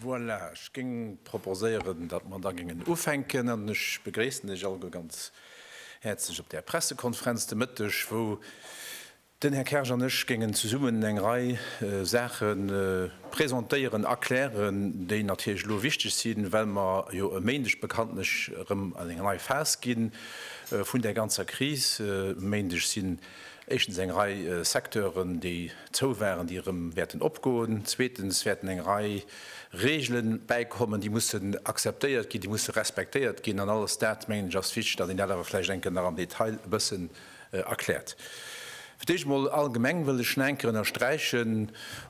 Voilà, ech géing proposéieren, datt mer da géingen ufänken. An ech begréissen Iech alleguer ganz häerzlech op där Pressekonferenz de Mëtteg, wou den Här Kersch an ech géingen zesummen eng Rei Saache presentéieren, erklären, déi natierlech elo wichteg sinn, well mer jo e Méindeg bekanntlech erëm an eng nei Phas gi vun där ganzer Kris. E Méindeg sinn Éischtens eng Rei Secteuren, déi zou waren, déi erëm wäerten opgoen. Zweetens wäerten eng Rei Regele bäikommen, déi mussen akzeptéiert ginn, déi musse respektéiert ginn. An alles dat, mengen ech, ass wichteg, datt een dat awer vläicht eng Kéier nach am Detail e bëssen erkläert. Fir d'éischt emol allgemeng wëll ech nach eng Kéier ënnersträichen,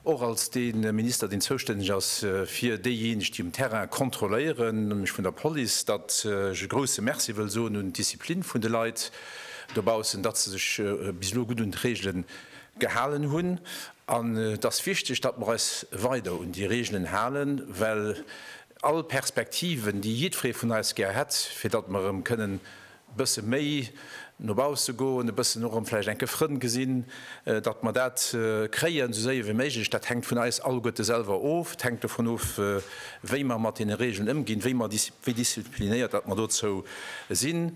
och als dee Minister, deen zoustänneg ass fir déijéineg, déi um Terrain kontrolléieren, nämlech vun der Police, datt ech e grouse Merci wëll soen un d'Disziplin vun de Leit, dobaussen, datt se sech bis elo gutt un d'Reegele gehalen hunn. An et ass wichteg, datt mer eis weider un déi Reegelen halen, well all Perspektiven, déi jiddweree vun eis gär hätt, fir datt mer erëm kënnen e bësse méi no bausse goen, e bëssen och erëm vläicht enke Frënn gesinn, datt mer dat kréien, esou séier wéi méiglech, dat hänkt vun eis alleguerte selwer of. Et hänkt dovun of, wéi mer mat deene Reegelen ëmginn, wéi disziplinéiert datt mer dozou sinn.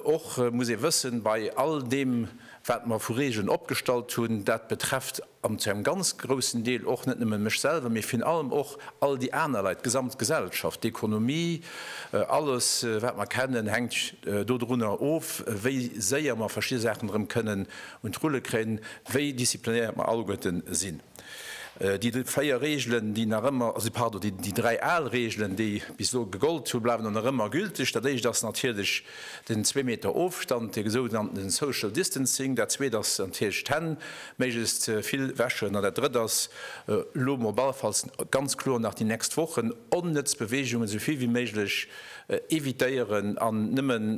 Och muss ee wëssen, bei all deem wat mer vu Regeln opgestallt hunn, dat betrefft an zu engem ganz groussen Deel och net nëmmen mech selwer, mee virun allem och all déi aner Leit, d'gesamt Gesellschaft, d'Ekonomie, alles wat mer kennen hänkt do drunner of, wéi séier mer verschidde Saachen erëm kënnen un d'Rulle kréien, wéi disziplinéiert mer alleguerten sinn. Déi véier Reegelen, déi nach ëmmer, also pardon, déi dräi al Reegelen, déi bis elo gegollt hunn, bleiwen och nach ëmmer gülteg. Dat éischt ass natierlech den zwee Meter Ofstand, de sougenannten social distancing. Dat zweet ass natierlech d'Hänn méiglechst vill wäschen. An dat drëtt ass, elo mol ballefalls ganz kloer nach déi nächst Wochen, onnëtz Beweegungen esou vill wéi méiglech evitéieren an nëmmen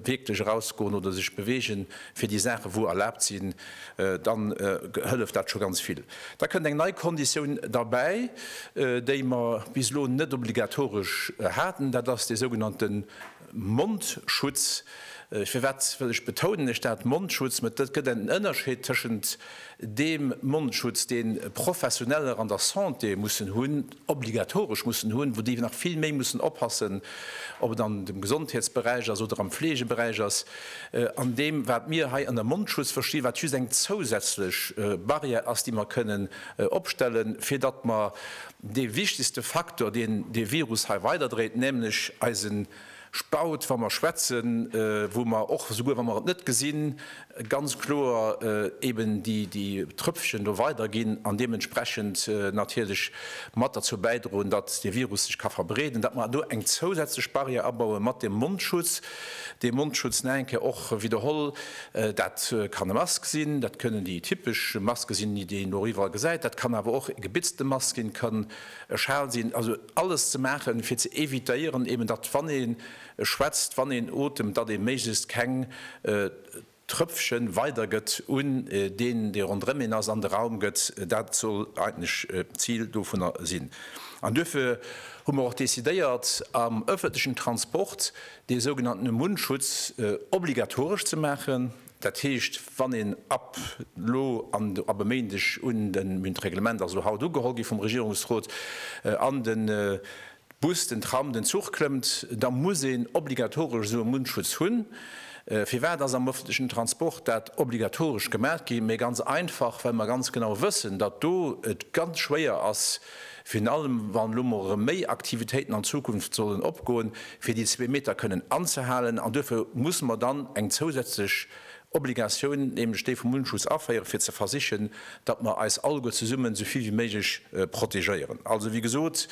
wierklech erausgoen oder sech beweegen fir déi Saachen, wou erlaabt sinn. dann hëlleft dat scho ganz vill. Da kënnt eng nei Konditioun derbäi, déi mer bis elo net obligatoresch haten, dat ass dee sougenannte Mondschutz. Firwat wëll ech betounen ech dat Mondschutz? Mä et gëtt en Ënnerscheed tëschent deem Mondschutz, dee Professioneller an der Santé mussen hunn, obligatoresch mussen hunn, wou déi nach vill méi mussen oppassen, ob et an dem Gesondheetsberäich ass oder am Fleegeberäich ass, an deem wat mir hei ënner Mondschutz verstinn, wat just eng zousätzlech Barrière ass, déi mer kënnen opstellen, fir datt mer dee wichtegste Faktor, deen dee Virus hei weiderdréit, nämlech eisen Spaut, wa mer schwätzen, wou mer och, esouguer wa mer et net gesinn, ganz kloer eeben déi Trëpfchen do weiderginn an deementsprechend natierlech mat derzou bäidroen, datt dee Virus sech ka verbreeden, datt mer do eng zousätzlech Barrière abaue mat deem Mondschutz. Dee Mondschutz, nach eng Kéier och widderholl, dat kann e Mask sinn, dat kënnen déi typesch Maske sinn, déi een och iwwerall gesäit, dat kann awer och e gebitzte Mask sinn, kann, E Schal sinn, also alles ze maachen, fir ze evitéieren eben, datt wann ee schwätzt, wann een otemt, datt ee méiglechst keng Trëpfche weidergëtt un deen, dee ronderëm een ass, an de Raum gëtt. Dat soll eigentlech d'Zil dovunner sinn. An duerfir hu mer och decidéiert, am ëffentlechen Transport dee sougenannte Mundschutz obligatoresch ze maachen. Dat heescht, wann een ab elo an ab e Méindeg un de Min. D'Reglement ass elo haut ugeholl gi vum Regierungsrot, an de Bus, den Tram, den Zuch klëmmt, da muss een obligatoresch esou e Mundschutz hunn. Firwat ass am öffentlechen Transport dat obligatoresch gemaach gi? Mä ganz einfach, well mer ganz genau wëssen, datt do et ganz schwéier ass, Virun allem wann elo mol erëm méi Aktivitéiten an Zukunft sollen opgoen, fir déi zwee Meter kënnen anzehalen. An duerfir musse mer dann eng zousätzlech Obligatioun, nämlech déi vum Mundschutz aféieren, fir ze versichen, datt mer eis alleguer zesummen esou vill wéi méiglech protegéieren. Also, wéi gesot,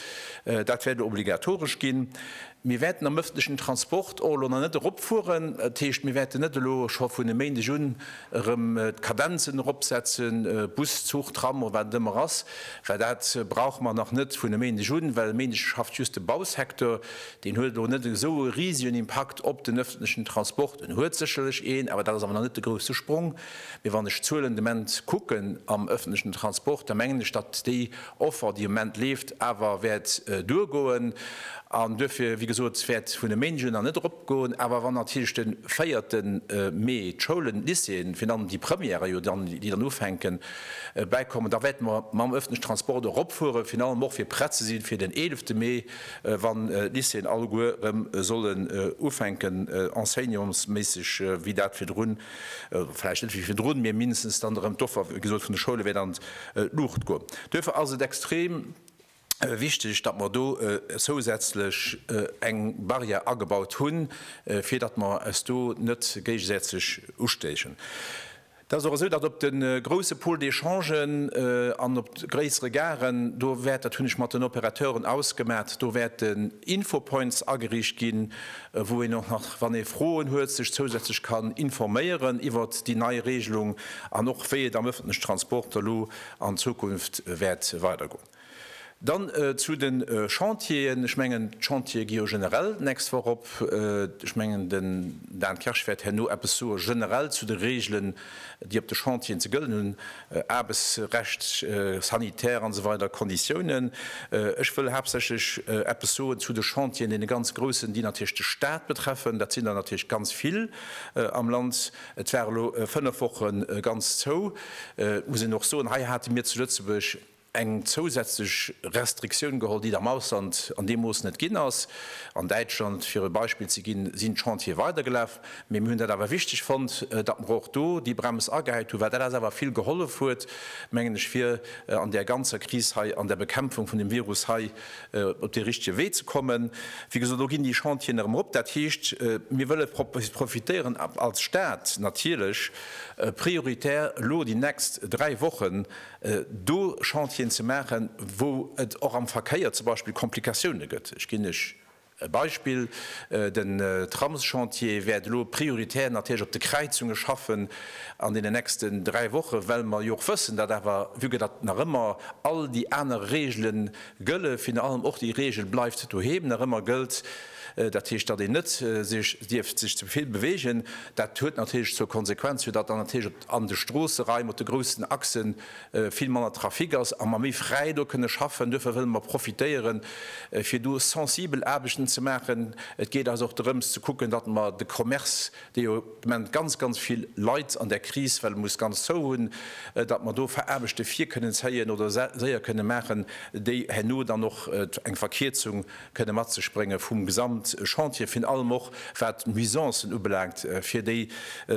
dat wäert elo obligatoresch ginn. Mir wäerten am öffentlichen Transport och elo nach net eropfueren. Dat heescht, mir wäerten net elo scho vun e Méindeg un erëm d'Kadenzen eropsetzen, Bus, Zuch, Tram oder wat et ëmmer ass, well dat brauche mer nach net vun e Méindeg un, well e Méindeg schafft just de Bausecteur. Deen huet elo net esou e risegen Impakt op den öffentlechen Transport, en huet sécherlech een, awer dat ass awer nach net de grousse Sprong. Mee wann ech d'Zuelen de Moment kucken am öffentlechen Transport, da mengen ech, datt déi Offer, déi am Moment leeft, awer wäert duergoen. An duerfir, wéi gesot, wäert vun e Méindeg un nach net eropgoen. Awer wann natierlech de véierte Mee d'Schoulen, d'Lycéeën, virun allem déi Premièren jo dann, déi dann ufänken, bäikommen, da wäerte mer mam öffentlechen Transport eropfueren, virun allem och fir prett ze sinn fir den eelefte Mee, wann d'Lycéeën alleguer erëm sollen ufänken enseignantsméisseg wéi dat virdrun, oder vläicht net wéi virdrun, mee mindestens dann erëm d'Offer, wéi gesot, vun de Schoule wäert an Luucht goen. Duerfir ass et extrem wichteg, datt mer do zousätzlech eng Barrière agebaut hunn, fir datt mer eis do net géigesätzeg ustéichen. Et ass och esou, datt op de grouse Pôles d'échangen an op gréissere Garen, do wäert, dat hunn ech mat den Opérateuren ausgemat, do wäerten Infopoints ageriicht ginn, wou een och nach, wann ee Froen huet, sech zousätzlech kann informéieren iwwert déi nei Regelung an och wéi et am öffentlichen Transport elo an Zukunft wäert weidergoen. Dann zu de Chantieren. Ech mengen, d'Chantiere gi jo generell d'nächst Woch op. Ech mengen, den Dan Kersch wäert herno eppes soe generell zu de Regelen, déi op de Chantieren ze gëllen hunn. Aarbechtsrecht, sanitär an esou weider Konditiounen. Ech wëll haaptsächlech eppes soen zu de Chantieren, deene ganz groussen, déi natierlech de Stat betreffen. Dat sinn der natierlech ganz vill am Land. Et war elo fënnef Woche ganz zou. Et muss een och soen, hei hate mir zu Lëtzebuerg, eng zousätzlech Restriktioun geholl, déi et am Ausland an deem Mooss net ginn ass. An Däitschland, fir e Beispill ze ginn, sinn d'Chantiere weidergelaf. Mee mir hunn dat awer wichteg fonnt, datt mer och do déi Brems agehäit hunn, well dat eis awer vill gehollef huet, mengen ech, fir an där ganzer Kris hei, an der Bekämpfung vun dem Virus hei op dee richtege Wee ze kommen. Wéi gesot, elo ginn déi Chantieren erëm erop. Dat heescht, mir wëlle profitéieren als Stat natierlech prioritär elo déi nächst dräi Wochen, do Chantieren ze maachen, wou et och am Verkéier zum Beispill Komplikatioune gëtt. Ech ginn lech e Beispill, Den Tramschantier wäert elo prioritär natierlech op de Kräizunge schaffen an deenen nächsten dräi Woche, well mer jo och wëssen, datt awer, vue que datt nach ëmmer all déi aner Reegele gëlle, virun allem och déi Reegel Bleift doheem nach ëmmer gëllt, dat heescht, datt een net sech dierf sech ze vill beweegen. Dat huet natierlech zur Konsequenz, fir datt dann natierlech an de Stroosseraim op de groussen Achse vill manner Trafic ass a mer méi fräi do kënne schaffen. Duerfir wëlle mer profitéieren, fir do sensibel Aarbechten ze maachen. Et geet eis och dorëms ze kucken, datt mer de Commerce, dee jo de Moment ganz, ganz vill leid an där Kris, well e muss ganz zou hunn, datt mer do Aarbechte vir kënnen zéien oder séier kënne maachen, déi herno dann och eng Verkierzung kënne mat sech bréngen, vum Gesamtchantier, vin allem och wat d'Nuisancen ubelaangt fir déi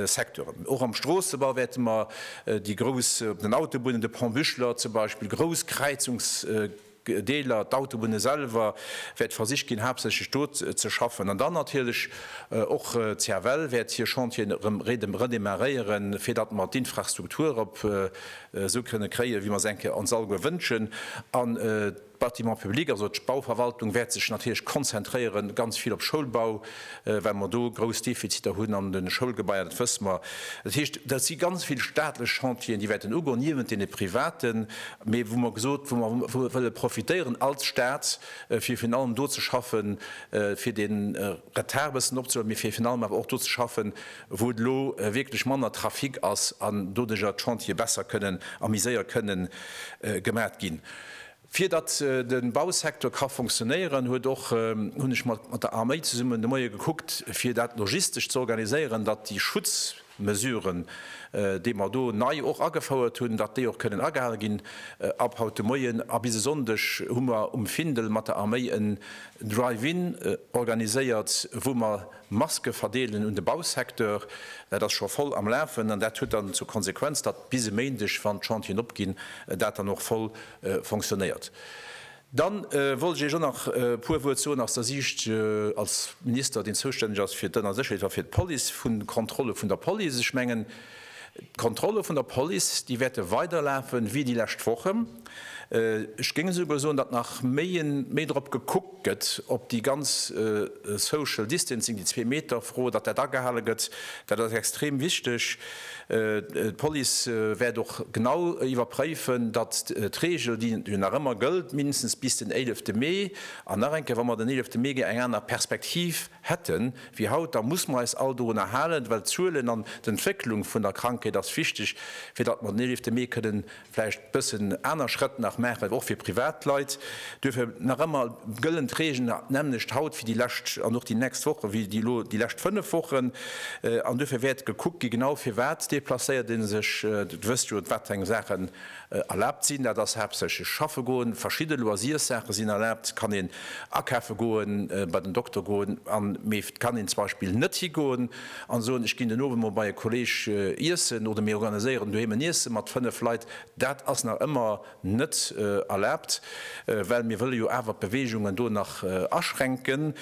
Secteuren. Och am Stroossebau wäerte mer déi grouss, op den Autobunnen, de Pont Büchler zum Beispill, grouss Kräizungsdeeler, d'Autobunne selwer, wäert versicht ginn, haaptsächlech do ze schaffen. An dann natierlech och d'CFL wäert hir Chantieren erëm redémarréieren, fir datt mer d'Infrastruktur erop esou kënne kréien, wéi mer se enke ons alleguer wënschen. D'Bâtiments publics, also d'Bauverwaltung, wäert sech natierlech konzentréiere ganz vill op Schoulbau, well mer do grouss Defiziter hunn an de Schoulgebaier, dat wësse mer. Dat heescht, dat si ganz vill staatlech Chantieren, déi wäerten ugoen, niewent deene privaten, mee wou mer gesot, wou mer wëlle profitéieren als Stat, fir virun allem do ze schaffen, fir dee Retard e bëssen opzehuelen, mee fir virun allem awer och do ze schaffen, wou et elo wierklech manner Trafic ass an doduerjer d'Chantiere besser kënnen a méi séier kënnen gemat ginn. Fir datt de Bausecteur ka fonctionnéieren, huet och, hunn ech mat der Arméi zesummen de Moie gekuckt, fir dat logistesch ze organiséieren, datt déi Schutzmesuren, déi mer do nei och agefouert hunn, datt déi och kënnen agehale ginn. Ab haut de Moien a bis e Sonndeg hu mer um Findel mat der Arméi en Drive-in organiséiert, wou mer Maske verdeelen un de Bausecteur, dat ass scho voll am Lafen an dat huet dann zur Konsequenz, datt bis e Méindeg, wann d'Chantieren opginn, dat dann och voll fonctionnéiert. Dann wollt ech Iech och nach e puer Wuert soen aus der Siicht als Minister, deen zoustänneg ass fir d'ënner Sécherheet a fir d'Police, vun Kontrolle vun der Police. Ech mengen, D'Kontrolle vun der Police, déi wäerte weiderlafen, wéi déi lescht Wochen. Ech géing esouguer soen, datt nach méi en, méi drop gekuckt gëtt, ob déi ganz Social Distancing, déi zwee Meter Fro, datt dat agehale gëtt. Dat ass extrem wichteg. D'Police wäert och genau iwwerpréifen, datt d'Regel, déi jo nach ëmmer gëllt, mindestens bis den éilefte Mee, an nach eng Kéier, wa mer den éilefte Mee ginn, eng aner Perspektiv, hätten wéi haut, da muss mer eis all dorunner halen, well d'Zuelen an d'Entwécklung vun der Krankheet ass wichteg, fir datt mer den 11 Mee kënnen vläicht bëssen aner Schrëtt nach maachen, och fir privat Leit. Duerfir nach ëmmer gëllen d'Reegelen d'nämmlecht haut wéi déi lescht an och déi nächst Woche wéi déi elo déi lescht fënnef Wochen. An duerfir wäert gekuckt gi genau firwat déplacéiert ee sech. Et wësst jo, wat eng Saachen Erlaabt sinn. Dat ass haaptsächlech schaffe goen. Verschidde Loisirssaache sinn erlaabt. Et kann een akafe goen, bei den Dokter goen, an mee et kann een zum Beispill net higoen a soen, ech ginn den Owend mol bei e Kolleeg iessen oder mir organiséieren doheem en Iesse mat fënnef Leit. Dat ass nach ëmmer net erlaabt, well mir wëlle jo awer d'Beweegungen do nach aschränken.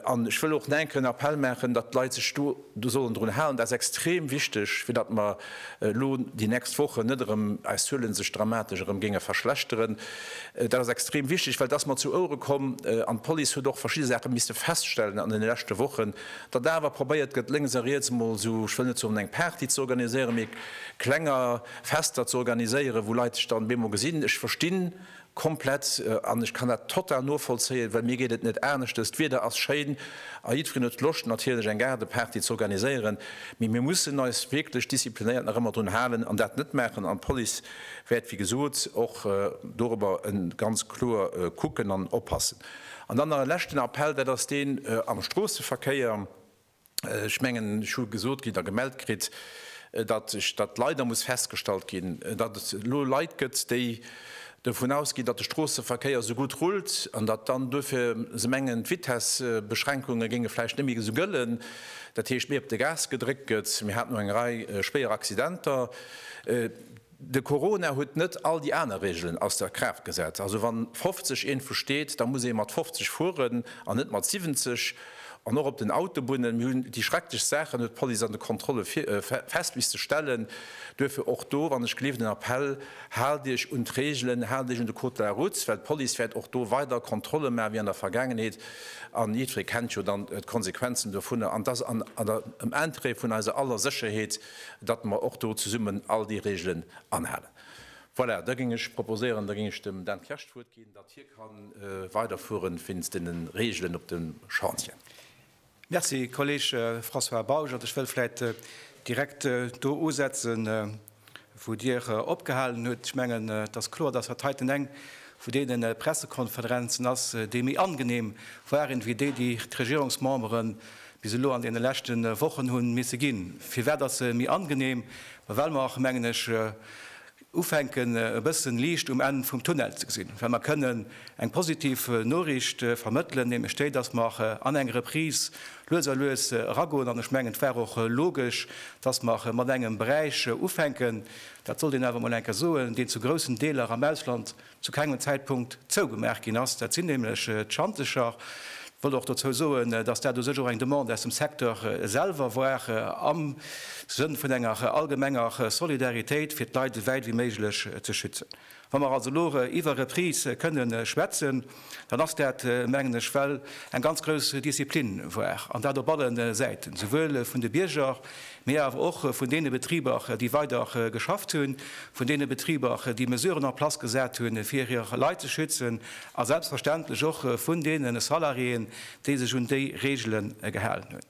An ech wëll och nach enke en Appell maachen, datt d'Leit sech do, do sollen drun halen, dat ass extrem wichteg, fir datt mer elo déi nächst Wochen net erëm eis Zuele sech dramatesch erëm géinge verschlechteren. Dat ass extrem wichteg, well et ass mer zu Ouere komm an d'Police huet och verschidde Saache misste feststellen an deene leschte Wochen, datt awer probéiert gëtt, lénks a riets emol esou, ech wëll net soen eng Party ze organiséieren, mee klenger Fester ze organiséieren, wou Leit sech dann bemol gesinn. Ech verstinn Komplett, an ech kann dat total novollzéien, well mir geet et net aneschters. D'Wieder ass schéin a jiddwereen huet Loscht natierlech eng Gaardeparty ze organiséieren, mee mir mussen eis wierklech disziplinéiert nach ëmmer drun halen an dat net maachen. An d'Police wäert, wéi gesot, och dorobber ganz kloer kucken an oppassen. An dann nach e leschten Appell, dat ass deen am Stroosseverkéier. Ech mengen, ech hu gesot kritt a gemellt kritt, datt ech dat leider muss festgestallt ginn, datt et elo Leit gëtt, déi dovun ausginn, datt de Stroosseverkéier esou gutt rullt an datt dann duerfir se mengen, d'Vitessbeschränkunge géinge vläicht net méi esou gëllen, dat heescht, méi op de Gas gedréckt gëtt. Mir haten och eng Rei schwéier Accidenter. De Corona huet net all déi aner Reegelen aus der Kraaft gesat. Also wann 50 een vu steet, da muss ee mat 50 fueren an net mat 70. An och op den Autobunnen, mir hunn déi schrecklechst Saachen, huet d'Police an de Kontrolle fest misste stellen. Duerfir och do, wann ech gleef, den Appell, Haalt Iech un d'Reegelen, haalt Iech un de Code de la Route, well d'Police wäert och do weider Kontrolle maachen, wéi an der Vergaangenheet. An jiddweree kennt jo dann d'Konsequenzen dovunner. An et ass am Interêt vun eiser aller Sécherheet. datt mer och do zesummen all déi Regelen anhalen. Voilà, da géing ech proposéieren, da géing ech dem Dan Kersch d'Wuert ginn, datt hie ka weiderfueren wéinst deene Regelen op de Chantieren. Merci, Kolleg François Bausch. Also ech wëll vläicht direkt do usetzen, wou Dir opgehalen hutt. Ech mengen, et ass kloer, datt dat heiten eng vu deene Pressekonferenzen ass, déi méi angenehm waren wéi déi, déi d'Regierungsmemberen bis elo an deene leschte Wochen hu misse ginn. Firwat ass se méi angenehm? Ma well mer, mengen ech, ufänken e bëssen Liicht um Enn vum Tunnel ze gesinn, well mer kënnen eng positiv Noriicht vermëttelen, nämlech déi, dass mer an eng Reprise lues a lues eragoen. An ech mengen, et war och logesch, dass mer mat engem Beräich ufänken, dat sollt een awer emol eng Kéier soen, deen zu groussen Deeler am Ausland, zu kengem Zäitpunkt zougemaach ginn ass. Dat sinn nämlech d'Schantecher. Ech wëll och dozou soen, dass dat u sech och eng Demande aus dem Secteur selwer war, am Sënn vun enger allgemenger Solidaritéit, fir d'Leit ewäit wéi méiglech ze schützen. Wa mer also elo iwwer Reprise kënne schwätzen, dann ass dat, mengen ech, well eng ganz grouss Disziplin war, an dat op alle Säiten, souwuel vun de Bierger mee awer och vun deene Betriber, déi weider geschafft hunn, vun deene Betriber, déi Mesuren en place gesat hunn, fir hir Leit ze schützen, a selbstverständlech och vun deene Salariéen, déi sech un déi Reegele gehalen hunn.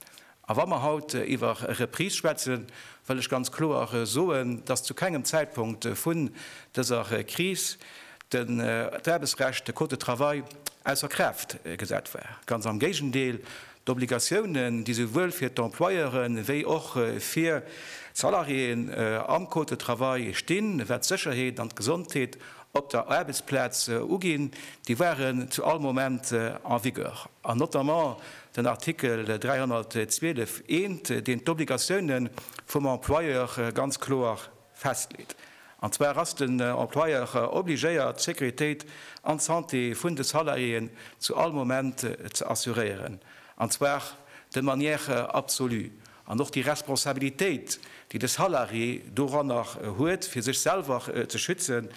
A wa mer haut iwwer Reprise schwätzen, wëll ech ganz kloer soen, dass zu kengem Zäitpunkt vun dëser Kris d'Aarbechtsrecht, de Code de travail, ausser Kraaft gesat war. Ganz am Géigendeel! D'Obligatiounen, déi souwuel fir d'Employeure wéi och fir d'Salariéeën am Code de travail stinn, wat d'Sécherheet an d'Gesondheet op der Aarbechtsplaz uginn, déi waren zu all Moment en vigueur. An notamment den Artikel 312 I, deen d'Obligatiounen vum Employeur ganz kloer festleet. An zwar ass den Employeur obligéiert, d'Sécuritéit an d'Santé vun de Salariéen zu all Moment ze assuréieren, an zwar de manière absolue. An och déi Responsabilitéit, déi de Salarié doranner huet, fir sech selwer ze schützen,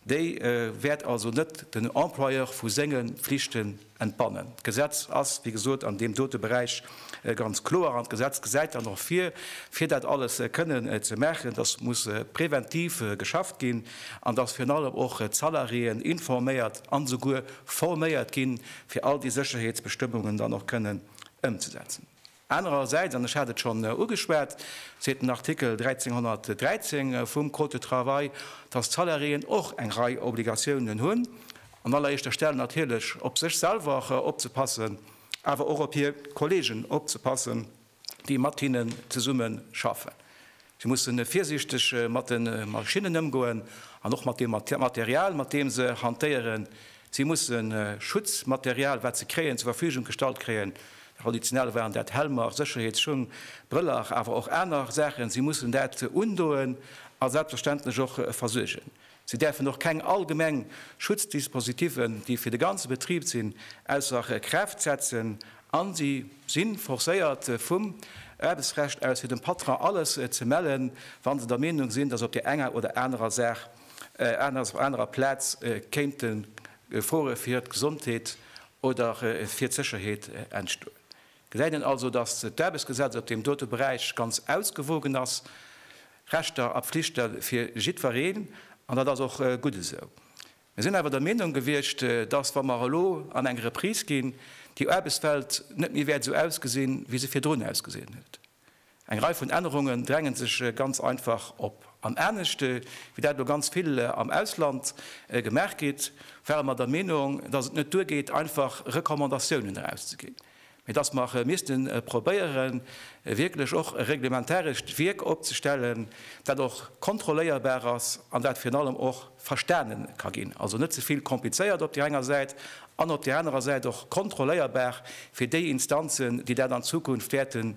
déi wäert also net den Employeur vu senge Pflichte entbannen. D'Gesetz ass, wéi gesot, an deem dote Beräich ganz kloer an d'Gesetz gesäit dann och vir, fir dat alles kënnen ze maachen, dass muss präventiv geschafft ginn an dass virun allem och d'Salariéen informéiert an esouguer forméiert ginn, fir all déi Sécherheetsbestëmmungen dann och kënnen ëmzesetzen. Anerersäits, an ech hat et schonn ugeschwat, seet den Artikel 1313 vum Code de travail, dass d'Salariéen och eng Rei Obligatiounen hunn, an alleréischter Stell natierlech op sech selwer opzepassen, awer och op hir Kolleegen opzepassen, déi mat hinnen zesumme schaffen. Si musse virsiichteg mat de Maschinnen ëmgoen an och mat deem Material, mat deem se hantéieren. Si musse Schutzmaterial, wat se kréien, zur Verfügung gestallt kréien. Traditionell waren dat Helmer, Sécherheetsschung, Brëller, awer och aner Saachen. Si mussen dat undoen a selbstverständlech och versuergen. Si däerfen och keng allgemeng Schutzdispositiven, déi fir de ganze Betrib sinn, ausser Kraaft setzen a si si forcéiert vum Aarbechtsrecht aus fir dem Patron alles ze mellen, wa se der Meenung sinn, datt op där enger oder anerer Saach, anerer Plaz kéinte Gefore fir d'Gesondheet oder fir d'Sécherheet entstoen. Gesäit een also, datt d'Aarbechtsgesetz op deem dote Beräich ganz ausgewogen ass, Rechter a Pflichte fir jiddwereen, an dat ass och gutt esou. Mir sinn awer der Meenung gewiescht, datt, wa mer elo an eng Reprise ginn, déi Aarbechtswelt net méi wäert esou ausgesinn, wéi se virdrun ausgesinn huet. Eng Rei vun Ännerungen drängen sech ganz einfach op. An anescht wéi dat elo ganz vill am Ausland gemaach gétt, ware mer der Meenung, dass et net duergeet einfach Recommandatiounen erauszeginn, mee dass mer misste probéieren wierklech och e reglementarescht Wierk opzestellen, dat och kontrolléierbar ass an dat virun allem och, verstane ka ginn, also net ze vill komplizéiert op där enger Säit an op där anerer Säit och kontrolléierbar fir déi Instanzen, déi dat an Zukunft wäerte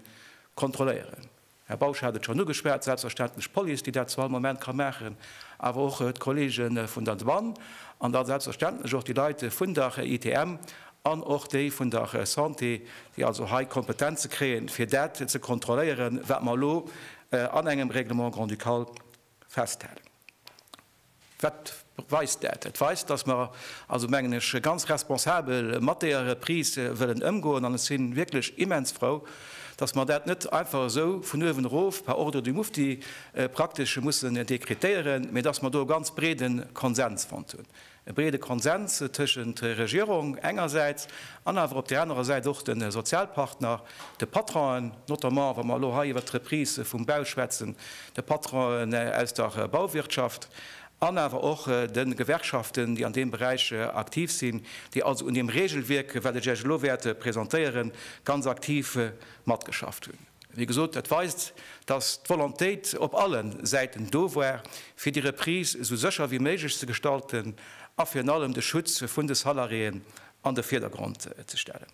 kontrolléieren. Här Bausch hat et schonn ugeschwat, selbstverständlech d'Police, déi dat zu all Moment ka maachen, awer och d'Kollege vun der Douane an da selbstverständlech och déi Leit vun der ITM an och déi vun der Santé, déi also hei Kompetenze kréien, fir dat ze kontrolléieren, wat mer elo an engem Règlement grand-ducal festhalen. Wat weist dat? Dat weist, dass mer also, mengen ech, ganz responsabel mat deeër Reprise wëllen ëmgoen. An ech si wierklech immens frou, dass mer dat net einfach esou vun uewen erof par ordre du Mufti praktesch hu mussen dekretéieren, mä dass mer do e ganz breede Konsens fonnt hunn. e breede Konsens tëschent Regierung engersäits an awer op där anerer Säit och de Sozialpartner, de Patronen, notamment wa mer elo hei iwwert d'Reprise vum Bau schwätzen, de Patronen aus der Bauwirtschaft an awer och de Gewerkschaften, déi an deem Beräich aktiv sinn, déi also un deem Regelwierk, wat ech Iech elo wäert presentéieren, ganz aktiv matgeschafft hunn. Wéi gesot, dat weist, dass d'Volontéit op alle Säiten do war, fir déi Reprise esou sécher wéi méiglech ze gestalten a virun allem de Schutz vun de Salariéen an de Virdergrond ze stellen.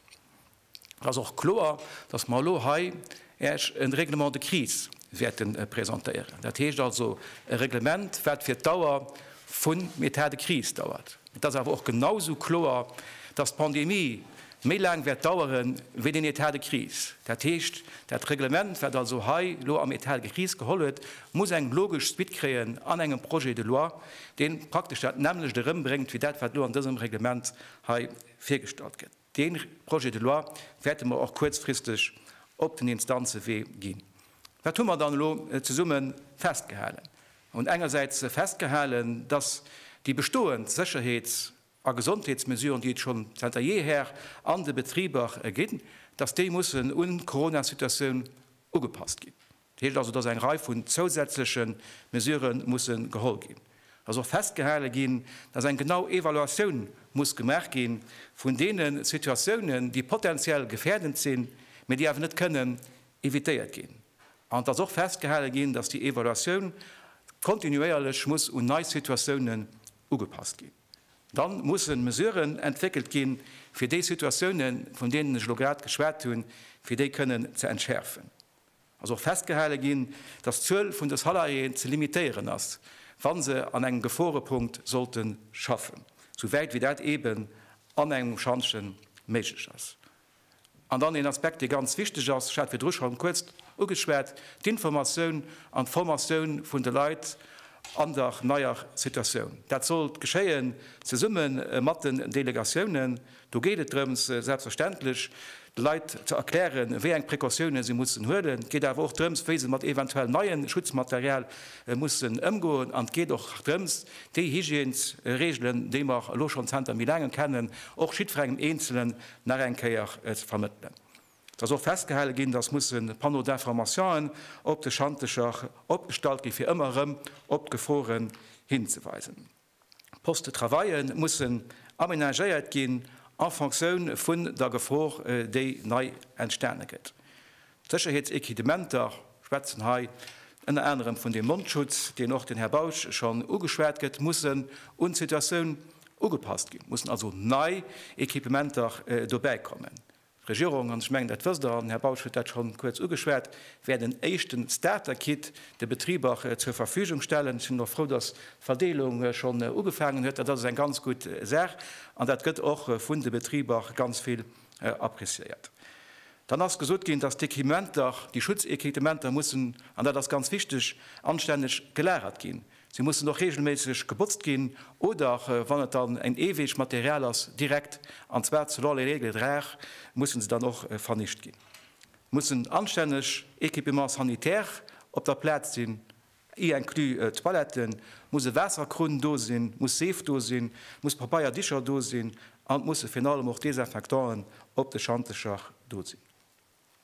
Et ass och kloer, dass mer elo hei Iech e Règlement de crise wäerte presentéieren. Dat heescht also e Reglement, wat fir d'Dauer vum Etat de crise dauert. Et ass awer och genau esou kloer, dass d'Pandemie méi laang wäert daueren, wéi den État de crise. Dat heescht, dat Reglement, wat also hei elo am État de crise geholl huet, muss eng logesch Suite kréien an engem Projet de loi, dee praktesch dat nämmlecht erëmbréngt wéi dat, wat elo an dësem Reglement hei virgestallt gëtt. Dee Projet de loi wäerte mer och kuerzfristeg op den Instanzewee ginn. Wat hu mer dann elo zesumme festgehalen? Mer hunn engersäits festgehalen, dass déi bestoend Sécherheets a Gesondheetsmesuren, déi et schonn zanter jeher an de Betriber ginn, dass déi mussen un d'Coronasituatioun ugepasst ginn. Dat heescht also, dass eng Rei vun zousätzleche Mesurë musse geholl ginn. Et ass och festgehale ginn, dass eng genau Evaluatioun muss gemaach gi vun deene Situatiounen, déi potentiell gefährdend sinn, mä déi awer net kënnen évitéiert ginn. An et ass och festgehale ginn, dass déi Evaluatioun kontinuéierlech muss un nei Situatiounen ugepasst ginn. Dann mussen Mesuren entwéckelt ginn, fir déi Situatiounen, vun deenen ech elo grad geschwat hunn, fir déi kënnen ze entschäerfen. ass och festgehale ginn, dass d'Zuel vun de Salariéen ze limitéieren ass, wa se an engem Geforepunkt sollte schaffen, sou wäit wéi dat eeben an engem Schantje méiglech ass. An dann een Aspekt, dee ganz wichteg ass, ech hat virdru schonn kuerz ugeschwat, d'Informatioun an d'Formatioun vun de Leit an der neier Situatioun. Dat sollt geschéien zesumme mat den Delegatiounen. Do geet et drëms, selbstverständlech de Leit ze erklären, wéi eng Precautiounen se mussen huelen. Et geet awer och drëms, wéi se mat eventuell neien Schutzmaterial mussen ëmgoen. An et geet och drëms, déi Hygiènesreegelen, déi mer elo schonn zanter méi laangem kennen, och jiddferengem Eenzelen nach eng Kéier ze vermëttelen. Et ass och festgehale ginn, dass musse Panneaux d'informationen op de Schantecher opgestallt ginn, fir ëmmer erëm op d'Geforen hinzeweisen. D'Postes de travaille mussen amenagéiert ginn en Fonctioun vun der Gefor, déi nei entstane gëtt. D'Sécherheetsequidementer schwätzen hei ënner anerem vun dem Mondschutz, deen och den Här Bausch schonn ugeschwat gëtt, mussen un d'Situatioun ugepasst ginn, mussen also nei Equipementer dobäikommen. D'Regierung, an ech mengen dat wësst Der, an den Här Bausch huet dat scho kuerz ugeschwat, wäert en éischte Starter-Kit de Betriber zur Verfügung stellen. Ech sinn och frou, datt d'Verdeelung schonn ugefaangen huet. Dat ass eng ganz gutt Saach an dat gëtt och vun de Betriber ganz vill appreciéiert. Dann ass gesot ginn, datt d'Equipementer, déi Schutzequipementer mussen, an dat ass ganz wichteg, anstänneg gelagert ginn. Si mussen och reegelméisseg gebotzt ginn oder, wann et dann en eeweegt Material ass, direkt, an zwar selon les règles de rare, mussen se dann och vernicht ginn. Et muss en anstänneg Équipement sanitaire op der Plaz sinn, y inclus Toiletten, et muss e Waasserkrunn do sinn, et muss Seef do sinn, et muss Pabeier, Dicher do sinn an et musse virun allem och Desinfectanten op de Schantecher do sinn.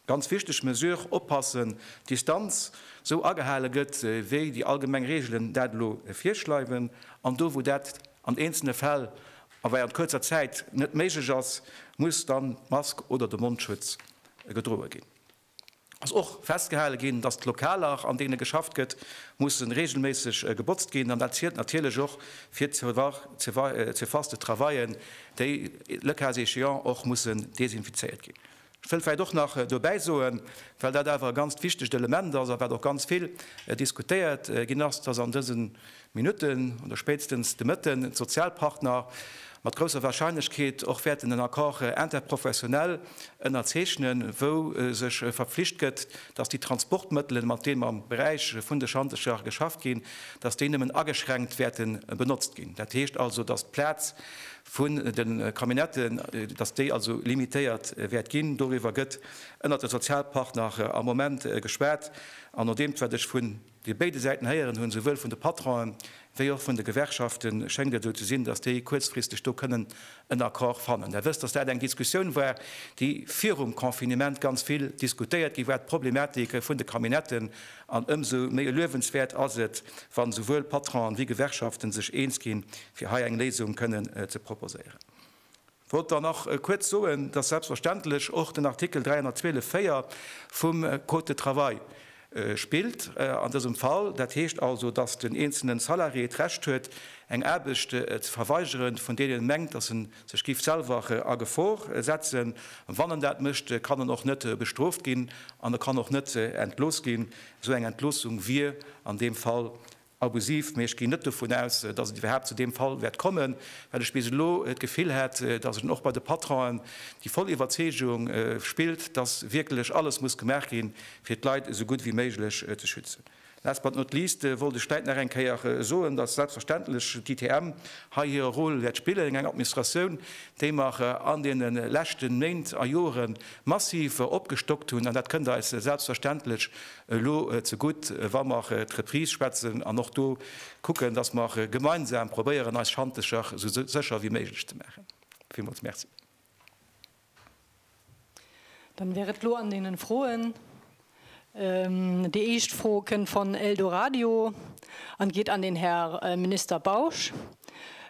Ganz wichteg Mesure, oppassen, d'Distanz esou agehale gëtt, wéi déi allgemeng Reegelen dat elo virschreiwen. An do, wou dat an eenzelne Fäll a wei an kuerzer Zäit net méiglech ass, muss dann d'Mask oder de Mondschutz gedroe ginn. Et ass och festgehale ginn, dass d'Lokaler, an deene geschafft gëtt, mussen reegelméisseg gebotzt ginn. An dat zielt natierlech och fir d'Surface de travaillen, déi, le cas échéant, och mussen desinfizéiert ginn. Ech wëll vläicht och nach dobäi soen, well dat awer e ganzt wichtegt Element ass a wat och ganz vill diskutéiert ginn ass, dass an dëse Minutten oder spéitstens de Mëtten d'Sozialpartner mat grousser Warscheinlechkeet och wäerten en Accord interprofessionnel ënnerzeechnen, wou sech verpflicht gëtt, dass déi Transportmëttelen, mat deem am Beräich vun de Schantecher geschafft ginn, dass déi nëmmen ageschränkt wäerte benotzt ginn. Dat heescht also, dass d'Plaz vun de Camionnetten, datt déi also limitéiert wäert ginn. Doriwwer gëtt ënnert de Sozialpartner am Moment geschwat. An no deem, wat ech vun de béide Säiten héieren hunn, souwuel vun de Patronen, wéi och vun de Gewerkschaften, schéngt et esou ze sinn, datt déi kuerzfristeg do kënnen en Accord fannen. Där wësst, datt dat eng Diskussioun war, déi virum Confinement ganz vill diskutéiert gi war, d'Problematike vun de Camionnetten An ëmsou méi luewenswäert ass et, wann souwuel Patronen wéi Gewerkschaften sech eens ginn, fir hei eng Léisung kënnen ze proposéieren. Wollt dann nach kuerz soen, dass selbstverständlech och den Artikel 312 4 vum Code de travail spillt an dësem Fall. Dat heescht also, dass den eenzelnen Salarié d'Recht huet, eng Aarbecht ze verweigeren, vun deenen en mengt, dass en Sech giff selwer a Gefor setzen. Wann en dat mécht, kann en och net bestrooft ginn an e kann och net entlooss ginn. Esou eng Entloossung wier an deem Fall abusiv. Mee ech ginn net dovun aus, datt et iwwerhaapt zu deem Fall wäert kommen, well ech bis elo d'Gefill hat, datt et och bei de Patronen déi voll Iwwerzeegung spillt, datt wierklech alles muss gemaach ginn, fir d'Leit esou gutt wéi méiglech ze schützen. Last but not least wollt ech vläit nach eng Kéier soen, dass selbstverständlech d'ITM hei hire Rôle wäert spillen, eng Administratioun, déi mer an deene leschte Méint a Jore massiv opgestockt hunn. An dat kënnt eis selbstverständlech elo zegutt, wa mer d'Reprise schwätzen an och do kucken, dass mer gemeinsam probéieren, eis Schantecher esou sécher wéi méiglech ze maachen. Villmools Merci. Dann wär et elo an deenen Froen. Déi éischt Fro kënnt von Eldoradio an geet an den Här Minister Bausch.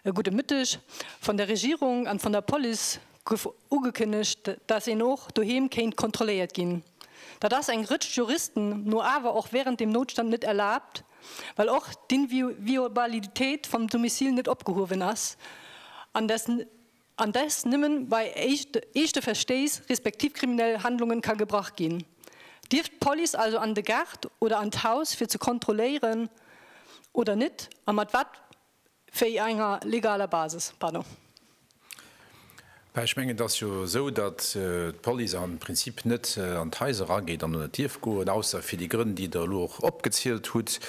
Gudde Mëtteg. Von der Regierung an von der Police guff ugekënnegt, datt een och doheem kéint kontrolléiert ginn. Datt ass eng Rëtsch Juristen no awer och während dem Noutstand net erlaabt, well och d'Inviolabilitéit vom Domicile net opgehuewen ass an datt an dass nëmmen bei eeschte Verstéiss respektiv kriminell Handlungen ka gebrach ginn, dierf d'Police also an de Gaart oder an d'Haus fir ze kontrolléieren oder net a mat wat wéi enger legaler Basis? Pardon. Mä ech mengen, et ass jo esou, datt d'Police am Prinzip net an d'Haiser erageet an oder dierf goen, ausser fir déi Grënn, déi Der elo och opgezielt hutt.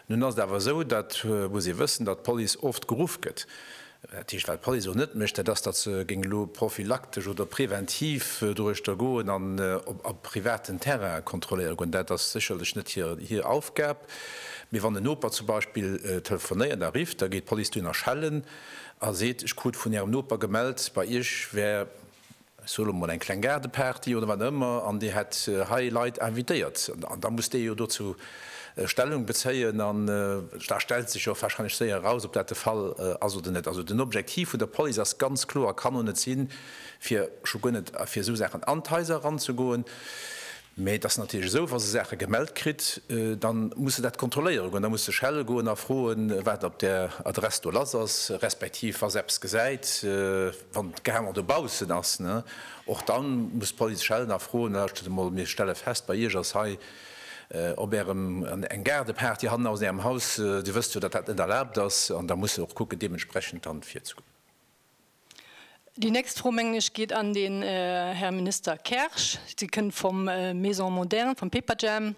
Nun ass et awer esou, dat muss ee wëssen, datt d'Police oft geruff gëtt, Dat heescht, wat d'Police elo net mécht, dat ass, datt se géing elo prophylaktesch oder preventiv doruechter goen an op a privaten Terrainen kontrolléiere goen. Dat ass sécherlech net hir hir Aufgab. Mee wann en Noper zum Beispill telefonéiert a rifft, da geet d'Police dohinner schellen a seet, Ech krut vun Ärem Noper gemellt, bei Iech wär Solle mol eng kleng Gaardeparty oder wat ëmmer, an Dir hätt hei Leit invitéiert, da muss dee jo dozou Stellung bezéien an da stellt sech jo warscheinlech séier eraus, ob dat de Fall ass oder net. Also den Objektiv vun der Police ass ganz kloer, kann och net sinn, fir scho guer net fir esou Saachen an d'Haiser eranzegoen. Mä et ass natierlech esou, wa se Saache gemellt kritt, da muss se dat kontrolléiere goen. Da muss se schelle goen a froen, wat op där Adress do lass ass, respektiv wa se eppes gesäit, wann d'Gehanger dobaussen ass. Och da muss d'Police schellen a froen, Lauschtert emol, mir stelle fest, bei Iech ass hei op Ärem eng Gaardeparty hannen aus Ärem Haus. Dir wësst jo, datt dat net erlaabt ass. An da muss se och kucken, deementsprechend dann virzegoen. Déi nächst Fro, mengen ech, geet an den Här Minister Kersch. Se kënnt vum Maison Moderne, vum Pepajam.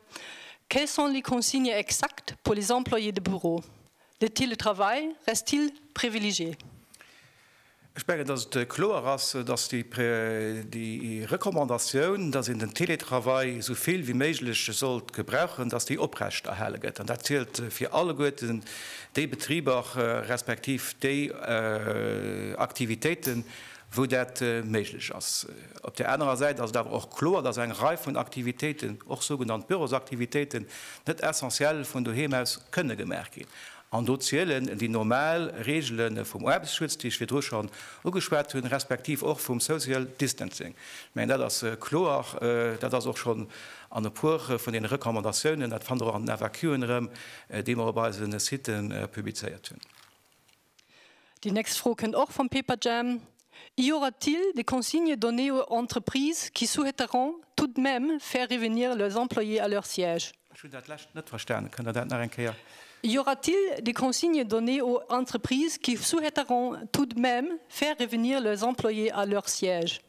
Quelles sont les consignes exactes pour les employés de bureau? Le télétravail reste-t-il privilégié? Ech mengen, dass et kloer ass, dass déi Recommandatioun, dass een den Télétravail esou vill wéi méiglech sollt gebrauchen, dass déi oprechterhale gëtt. An dat zielt fir alleguerten, déi Betriber respektiv déi Aktivitéiten, wou dat méiglech ass. Op där anerer Säit ass et awer och kloer, dass eng Rei vun Aktivitéiten, och sougenannt Bürosaktivitéiten, net essentiell vun doheem aus kënne gemaach ginn. An do zielen déi normal Reegele vum Aarbechtsschutz, déi ech virdru schonn ugeschwat hunn, respektiv och vum Social Distancing. Ech mengen, dat ass kloer. Dat ass och schonn an e puer vun deene Recommandatiounen, dat fannt Der och an den FAQen erëm, déi mer op eise Site publizéiert hunn. Déi nächst Fro kënnt och vum Paperjam, Y aura-t-il des consignes données aux entreprises qui souhaiteront tout de même faire revenir leurs employés à leur siège? Ech hunn dat lescht net verstanen. Kënnt Der dat nach eng Kéier? Y aura-t-il des consignes données aux entreprises qui souhaiteront tout de même faire revenir leurs employés à leur siège?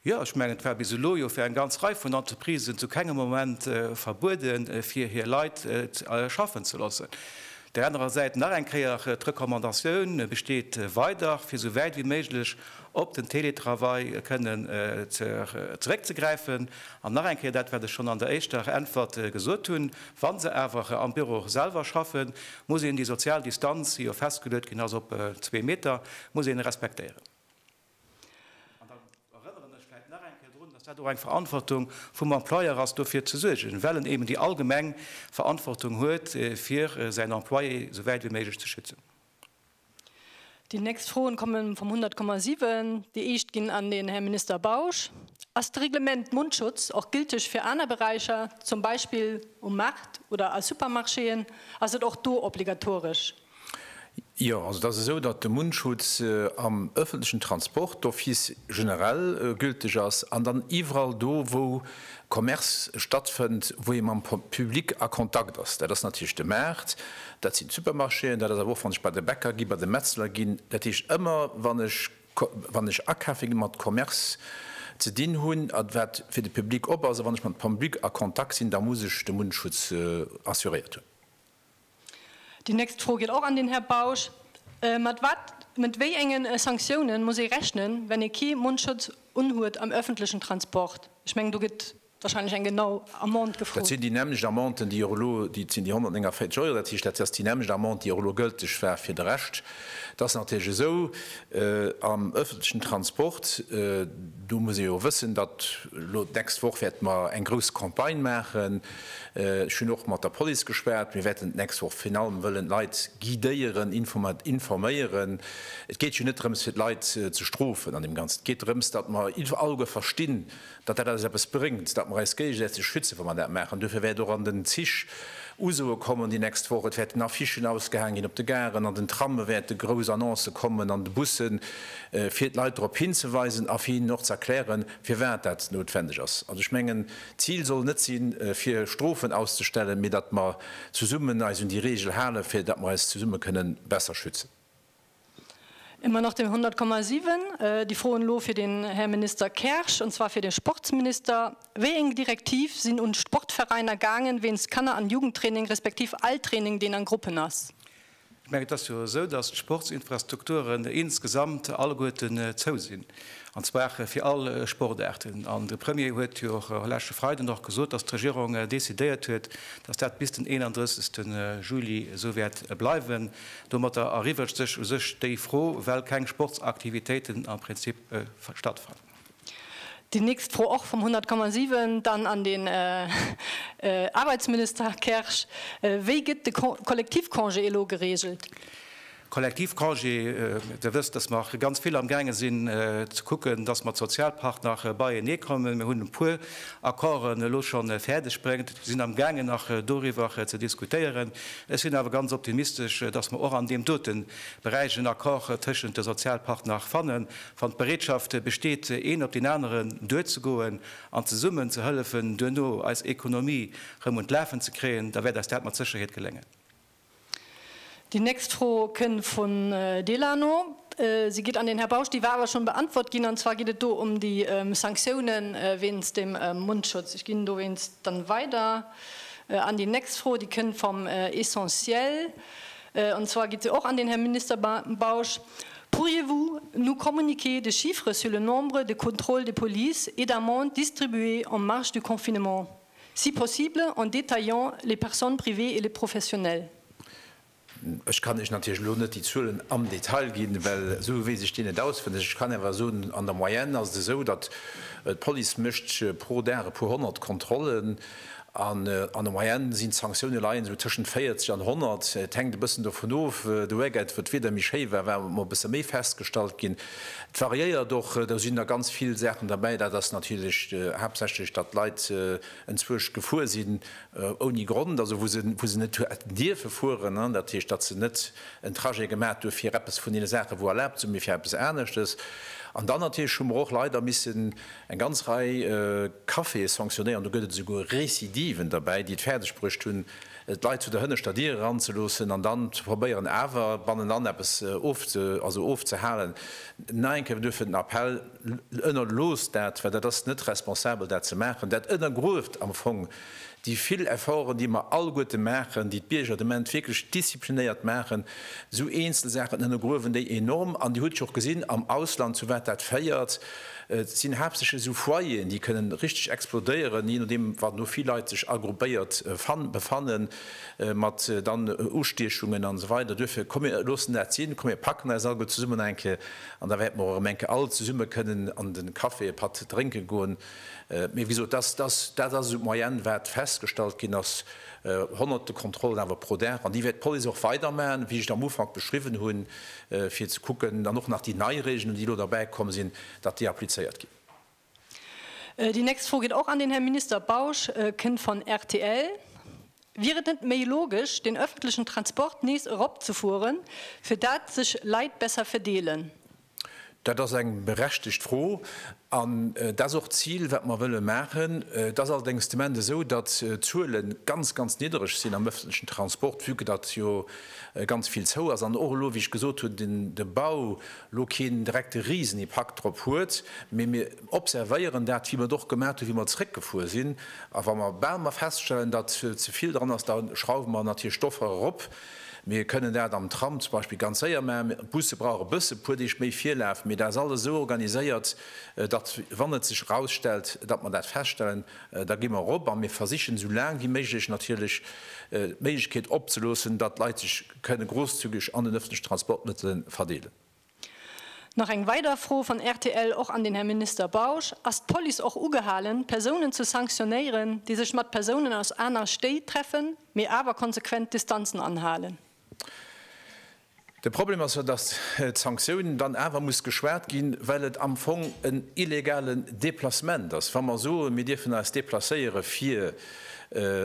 Jo, ech mengen, et war bis elo jo fir eng ganz Rei vun Entreprisen zu kengem Moment verbueden, fir hir Leit schaffen ze loossen. Där anerer Säit nach eng Kéier, D'Recommandatioun besteet weider, fir esou wäit wéi méiglech op den Teletravail kënnen zeréckzegräifen. An nach eng Kéier dat, wat ech schonn an der éischter Äntwert gesot hunn, Wa se awer am Büro selwer schaffen, muss een déi sozial Distanz, déi jo festgeluet ginn ass op zwee Meter, muss een respektéieren. An dann erënneren ech vläicht nach eng Kéier drun, dass dat och eng Verantwortung vum Employeur ass, dofir ze suergen, well en eben déi allgemeng Verantwortung huet, fir säin Employé esou wäit wéi méiglech ze schützen. Déi nächst Froen komme vum 100,7. Déi éischt ginn an den Här Minister Bausch. Ass de Reglement Mundschutz och gülteg fir aner Beräicher, zum Beispill um Maart oder a Supermarchéen? Ass et och do obligatoresch? Jo, also et ass esou, datt de Mundschutz am öffentlechen Transport d'office generell gülteg ass an dann iwwerall do, wou Commerce stattfënnt, wou ee mam Public a Kontakt ass. Dat ass natierlech de Maart, dat sinn d'Supermarchéen, dat ass awer och, wann ech bei de Bäcker ginn, bei de Metzler ginn. Dat heescht, ëmmer wann ech, wann ech akafe ginn, mat Commerce ze dinn hunn, a wat fir de Public op ass, a wann ech mam Public a Kontakt sinn, da muss ech de Mundschutz assuréiert hunn. Déi nächst Fro geet och an den Här Bausch. Mat wat, mat wéi enge Sanktiounen muss ee rechnen, wenn ee kee Mondschutz unhuet am öffentlechen Transport? Ech mengen, do gëtt wahrscheinlech eng genau Amende gefrot. Dat sinn déi nämmlecht Amenden, déi och elo, dat sinn déi 149 Euro. Dat heescht, dat ass déi nämmlecht Amende, déi och elo gëlteg war fir de Rescht. Et ass natierlech esou, am öffentlechen Transport, do muss ee jo wëssen, datt elo d'nächst Woch wäerte mer eng grouss Campagne maachen, Ech hunn och mat der Police geschwat. Mir wäerten d'nächst Woch virun allem wëllen d'Leit guidéieren, informéieren. Et geet jo net drëms, fir d'Leit ze strofen an deem Ganzen. Et geet drëms, datt mer all uewe verstinn, datt dat alles eppes bréngt, datt mer eis géigesätzeg schützen, wa mer dat maachen. Duerfir wäert och an den Zich usoe kommen déi nächst Woch. Et wäerten Affichen ausgehaang ginn op de Garen. An den Trame wäerte grouss Annoncë kommen, an de Bussen, fir d'Leit drop hinzeweisen a fir hinnen och ze erklären, firwat dat noutwendeg ass. An ech mengen, D'Zil soll net sinn, fir Strofen auszestellen, mee datt mer zesummen eis un déi Reegel halen, fir datt mer eis zesumme kënnen besser schützen. Ëmmer nach den 100,7. Déi Fro elo fir den Här Minister Kersch, an zwar fir de Sportsminister, Wéieng Direktiv sinn un d'Sportveräiner gaangen wéinst Kanner an Jugendtraining respektiv all Training, deen an Gruppen ass? Ech mengen, et ass jo esou, datt d'Sportsinfrastrukturen insgesamt alleguerten zou sinn, an zwar fir all Sportaarten. An de Premier huet jo och leschte Freiden och gesot, datt d'Regierung decidéiert huet, datt dat bis den 31. Juli esou wäert bleiwen. Domatter erübregt sech u sech déi Fro, well keng Sportsaktivitéiten am Prinzip stattfannen. Déi nächst Fro och vum 100,7 dann an den Aarbeitsminister Kersch, Wéi gëtt de Kollektivcongé elo geregelt? Kollektivcongé, Dir wësst, datt mer ganz vill amgaange sinn ze kucken, datt mer d'Sozialpartner beienee kréien. Mir hunn e puer Accorden elo scho fäerdeg bréngt, sinn amgaangen nach doriwwer ze diskutéieren. Ech sinn awer ganz optimistesch, datt mer och an deem dote Beräich en Accord tëschent de Sozialpartner fanne Wann d'Bereetschaft besteet, een op deen aneren duerzegoen an zesummen ze hëllefen, duerno eis Ekonomie erëm un d'Lafen ze kréien, da wäert eis dat mat Sécherheet geléngen. Déi nächst Fro kënn vun Delano. Si geet an den Här Bausch. Déi war awer schonn beantwort ginn, an zwar geet et do ëm déi Sanktiounen wéinst dem Mondschutz. Ech ginn dowéinst dann weider an déi nächst Fro. Déi kënn vom Essentiel. Und zwar geet se och an den Här Minister Bausch, Pourriez-vous nous communiquer des chiffres sur le nombre de contrôles de police et d'amendes distribuées en marge du confinement, si possible en détaillant les personnes privées et les professionnels? Ech kann Iech natierlech elo net déi Zuelen am Detail ginn, well esou weess ech déi net auswenneg. Ech kann awer soen, an der Moyenne ass et esou, datt d'Police mécht pro Dag e puer honnert Kontrollen. An der Moyenne sinn d'Sanktioune leien esou tëschent 40 an 100, et hänkt e bëssen dovun of. De Weekend, wou d'Wieder méi schéi war, war emol e bësse méi festgestallt ginn. Et variéiert och, do sinn der ganz vill Saachen derbäi. Dat ass natierlech haaptsächlech, datt d'Leit enzwuecht gefuer sinn ouni Grond, also wou se wou se net hätten dierfe fueren. Dat heescht, datt se net en Trajet gemaach hu fir eppes vun deene Saachen, wou erlaabt sinn, mee fir eppes aneschtes. An dann natierlech hu mer och leider missen, Eng ganz Rei Caféë sanctionnéieren, do gëtt et esouguer Recidiven derbäi, déi et fäerdeg bruecht hunn, d'Leit zu der hënneschter Dier eranzeloossen an dann ze probéieren, awer bannenan eppes ofzehalen. Nach eng Kéier duerfir den Appell, Ënnerloosst dat, well dat ass net responsabel, dat ze maachen. Dat ënnergrueft am Fong Déi vill Efforten, déi mer alleguerte maachen, déi d'Bierger de Ment wierklech disziplinéiert maachen, esou eenzel Saachen ënnergruewen déi enorm. An Dir hutt jo och gesinn am Ausland, zu wat dat féiert. Et sinn haaptsächlech esou Foyeren, déi kënnen richteg explodéieren, jee nodeem wat, wou vill Leit sech agruppéiert befannen, mat dann Ustiechungen an esou weider. Duerfir, komm mir loossen dat sinn, komm mir packen eis alleguer zesummen eng Kéier an da wäerte mer och erëm eng Kéier all zesumme kënnen an de Café e Patt drénke goen. Mee wéi gesot, dat ass esou d'Moyenne, wat festgestallt ginn ass. Honnerte Kontrollen awer pro Dag. An déi wäert d'Police och weidermachen, wéi ech et am Ufank beschriwwen hunn, fir ze kucken, dann och nach déi nei Reegelen, déi elo derbäikomm sinn, datt déi applizéiert ginn. Déi nächst Fro geet och an den Här Minister Bausch, kënnt van rtl. Wier et net méi logesch, den öffentlichen Transport nees eropzefueren, fir dat sech Leit besser verdeelen? Dat ass eng berechtegt Fro. An dat ass och d'Zil, wat mer wëlle maachen. Et ass allerdéngs de Moment esou, datt d'Zuele ganz, ganz niddereg sinn am öffentlichen Transport, vue que datt jo ganz vill zou ass an och elo, wéi ech gesot hunn, de Bau elo keen direkte Risenipakt drop huet. Mee mir observéieren dat, wéi mer et och gemaach hunn, wéi mer zrëckgefuer sinn. A wa mer bal emol feststellen, datt ze vill dran ass, da schrauwe mer natierlech d'Offer erop. Mir kënnen dat am Tram zum Beispill ganz séier maachen. D'Busse brauche bësse puer Deeg méi Virlaf, mee dat ass alles esou organiséiert, datt wann et sech erausstellt, datt mer dat feststellen, da gi mer erop a mir versichen esou laang wéi méiglech natierlech d'Méiglechkeet opzeloossen, datt d'Leit sech kënne grousszügeg an den öffentlichen Transportmittele verdeelen. Nach eng weider Fro van rtl, och an den Här Minister Bausch, Ass d'Police och ugehalen, Persounen ze sanktionéieren, déi sech mat Persounen aus aner Stéit treffen, mee awer konsequent Distanzen anhalen? De Problem ass jo, dass d'Sanktioun dann awer muss geschwat ginn, well et am Fong en illegalen Déplacement ass. Wa mer soen, mir dierfen eis déplacéieren, fir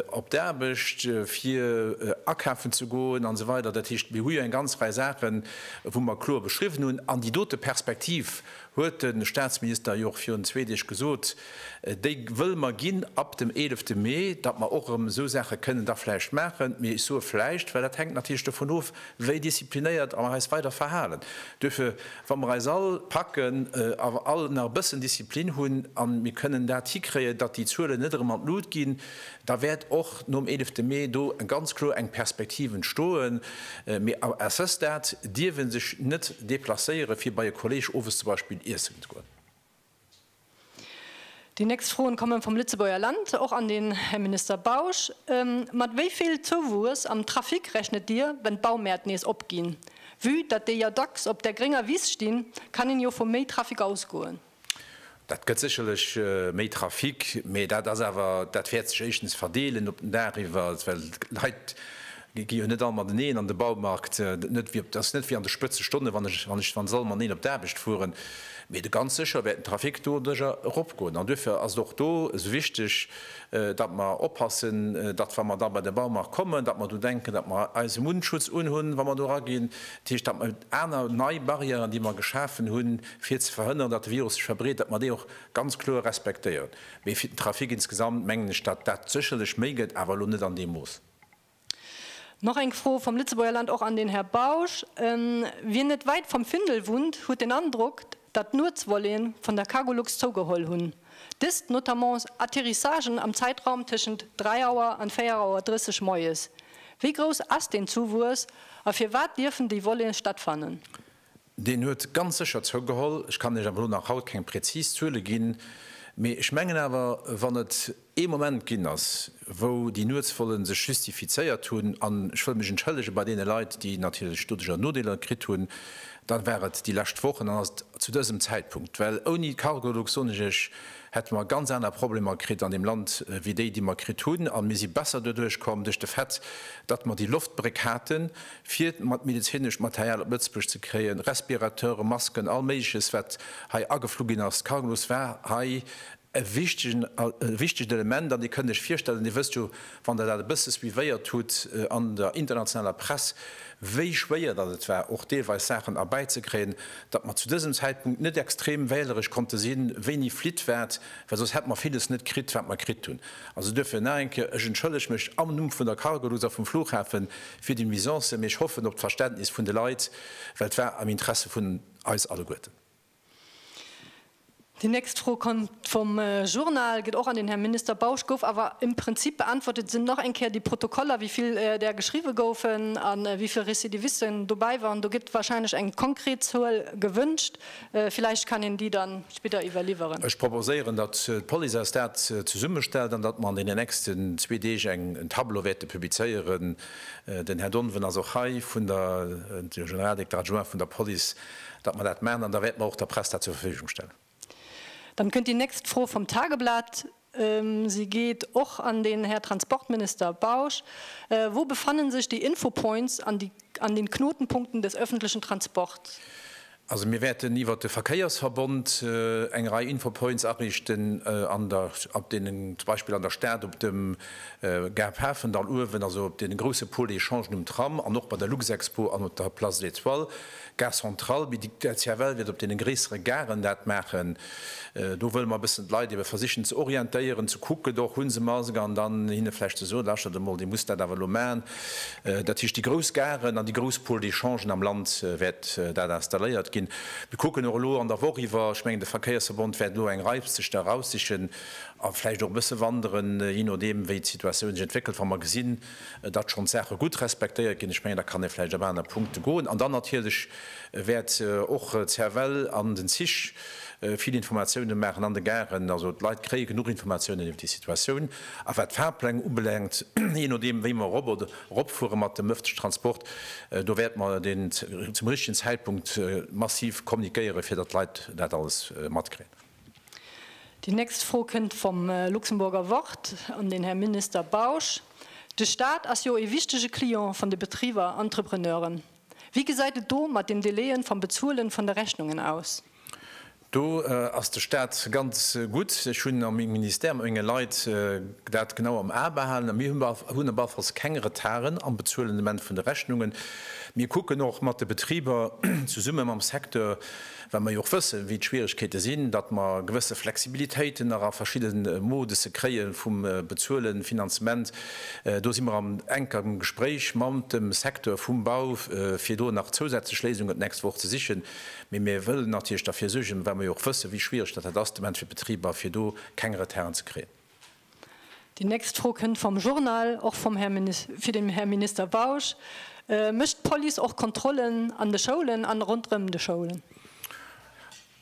op d'Aarbecht, fir akafen ze goen an esou weider. Dat heescht, mir hu jo eng ganz Rei Saachen, wou mer kloer beschriwwen hunn. An déi dote Perspektiv, huet de Statsminister jo och virun zwee Deeg gesot, déi wëlle mer ginn ab dem eelefte Mee, datt mer och erëm esou Saache kënnen da vläicht maachen. Mee ech soe vläicht, well dat hänkt natierlech dovun of, wéi disziplinéiert mer eis weider verhalen. Duerfir Wa mer eis all packen a all nach e bëssen Disziplin hunn a mir kënnen dat hikréien, datt déi Zuelen net erëm an d'Lut ginn, da wäert och nom 11 Mee do ganz kloer eng Perspektiv entstoen. Mee à ce stade dierf ee sech net deplacéieren, fir bei e Kolleeg owes zum Beispill iessen ze goen. Déi nächst Froen kommen vum Lëtzebuerger Land, och an den Här Minister Bausch. Mat wéi vill Zouwuess am Trafic rechnet Dir, wenn d'Baumäert nees opginn? Vue datt déi jo dacks op der grénger Wiss stinn, kann een jo vu méi Trafic ausgoen. Dat gëtt sécherlech méi Trafic, mä dat ass awer, dat wäert sech éischtens verdeelen op den Dag iwwert, well d'Leit Gi jo net all mateneen an de Baumarkt, dat ass net wéi an de Spëtzestonne wann se all mateneen op d'Aarbecht fueren. Mee do ganz sécher wäert den Trafic doduerjer eropgoen. An duerfir ass et och do esou wichteg, datt mer oppassen, datt wa mer da bei de Baumarkt kommen, datt mer do denken, datt mer eise Mundschutz unhunn, wa mer do eraginn. Dat heescht, datt mer aner, nei Barrièren, déi mer geschafen hunn, fir ze verhënneren, datt de Virus sech verbreet, datt mer déi och ganz kloer respektéieren. Mee fir den Trafic insgesamt mengen ech, datt dat sécherlech méi gëtt, awer elo net an deem Mooss. Nach eng Fro vom Lëtzebuerger Land och an den Här Bausch, Wien net weit vom Findel wunnt, huet den Androck, datt d'Nuetsvolléen von der Cargolux zougeholl hun. Dëst notamment Atterrissagen am Zeitraum tëschent 3 Auer an 4 Auer 30 moies. Wéi grouss as deen Zuwues a firwat dierfen déi Volléen stattfannen? Deen huet ganz sécher zougeholl. Ech kann Iech awer elo nach haut keng präzis Zuele ginn, mee ech mengen awer, wann et ee Moment ginn ass, wou déi Nuetsvollen sech justifizéiert hunn, an ech wëll mech entschëllege bei deene Leit, déi natierlech doduerjer Nodeeler kritt hunn, dann war et déi lescht Woch an dann ass et zu dësem Zäitpunkt. Well ouni d'Cargolux, soen ech Iech, hätte mer ganz aner Problemer kritt an deem Land wéi déi, déi mer kritt hunn. A mir si besser doduerch komm, duerch de Fait, datt mer déi Loftbréck haten. fir mat medezinesch Material op Lëtzebuerg ze kréien, Respirateure, Masken, all Méigleches wat hei ageflu ginn ass. D'Cargolux war hei e wichtegen e wichtegt Element an Dir kënnt Iech virstellen, Dir wësst jo, wann Der dat e bësse suivéiert hutt an der internationaler Press, wéi schwéier datt et war och deelweis Saachen erbäizekréien, datt mer zu dësem Zäitpunkt net extrem wähleresch konnte sinn, wéini flitt wat, well soss hätt mer villes net kritt wat mer kritt hunn. Also duerfir nach eng Kéier, ech entschëllege mech am Numm vun der Cargolux a vum Flughafen fir déi Nuisancen, mee ech hoffen op d'Verständnis vun de Leit, well et war am Interesse vun eis alleguerten. Déi nächst Fro kënnt vum Journal, geet och an den Här Minister Bausch, gouf awer im Prinzip beäntwert. Et sinn nach eng Kéier déi Protokoller, wéi vill där geschriwwe goufen a wéi vill Recidivisten dobäi waren. Do gëtt warscheinlech eng konkret Zuel gewünscht. Villäicht kann een déi da spidder iwwerliwweren. Ech proposéieren, datt d'Police eis dat zesummestellt an datt mer an deenen nächsten zwee Deeg eng Tableau wäerte publizéieren. Den Här Donovan ass och hei, de Generaldirekter adjoint vun der Police, datt mer dat maachen an da wäerte mer och der Press dat zur Verfügung stellen. Dann kënnt déi nächst Fro vum Tageblatt. Si geet och an den Här Transportminister Bausch. Wo befannen sech déi Infopoints an déi an den Knotenpunkten des öffentlichen Transports? Also mir wäerten iwwert de Verkéiersverbond eng Rei Infopoints ariichten an der op deenen zum Beispill an der Stad op dem Gare Pafendall uewen, also op deene grousse Pôle-échangen um Tram an och bei der Luxexpo an op der Place de l'Étoile. D'Gare centrale, mee déi CFL wäert op deene gréissere Garen dat maachen. Do wëlle mer e bëssen d'Leit ebe versichen ze orientéieren, ze kucken, do och wou se mar sinn, an dann hinne vläicht ze soen, Lauschtert emol, Dir musst dat awer elo maachen. Dat heescht, déi grouss Garen an déi grouss Pôles d'échangen am Land wäert dat installéiert ginn. Mir kucken och elo an der Woch iwwer, ech mengen de Verkéiersverbond wäert elo eng Rei sech da eraussichen a vläicht och e bësse wanderen, jee nodeem wéi d'Situatioun sech entwéckelt, wa mer gesinn, Et ass schonn d'Saache gutt respektéiert ginn. Ech mengen, da kann ee vläicht op aner Punkte goen. An dann natierlech wäert och d'Cervelle an den Zich vill Informatiounen maachen, an de Garen. Also d'Leit kréie genuch Informatiounen iwwer déi Situatioun. A wat d'Fahrpläng ubelaangt, jee nodeem wéi mer erop oder eropfuere mat dem ëffentleche Transport, do wäerte mer deen zum richtegen Zäitpunkt massiv kommunikéieren, fir datt d'Leit dat alles matkréien. Déi nächst Fro kënnt vum Luxemburger Wort un den Här Minister Bausch. De Staat ass jo ee wichtege Client vun de Betriber an Entrepreneuren. Wéi gesäit et do mat den Delaien vam Bezuelen vun de Rechnungen aus? Do ass de Staat ganz gutt. Ech hunn a mengem Ministère mat menge Leit dat genau am A behalen a mir hunn op alle Falls keng Retarden am Bezuelen ament vun de Rechnungen. Mir kucken och mat de Betriber, zesumme mam Secteur, Well mer jo och wëssen, wéi d'Schwieregkeete sinn, datt mer gewësse Flexibilitéiten nach a verschidde Moduse kréie vum Bezuelen, Finanzement. Do si mer an enkerem Gespréich mamt dem Secteur vum Bau, fir do nach zousätzlech Léisungen d'nächst Woch ze sichen. Mee mir wëllen natierlech derfir suergen, well mer jo och wëssen, wéi schwiereg datt dat ass de Moment fir d'Betriber, fir do keng Retarden ze kréien. Déi nächst Fro kënnt vum Journal, och vum Här, fir den Här Minister Bausch. Mécht d'Police och Kontrollen an de Schoulen an ronderëm de Schoulen?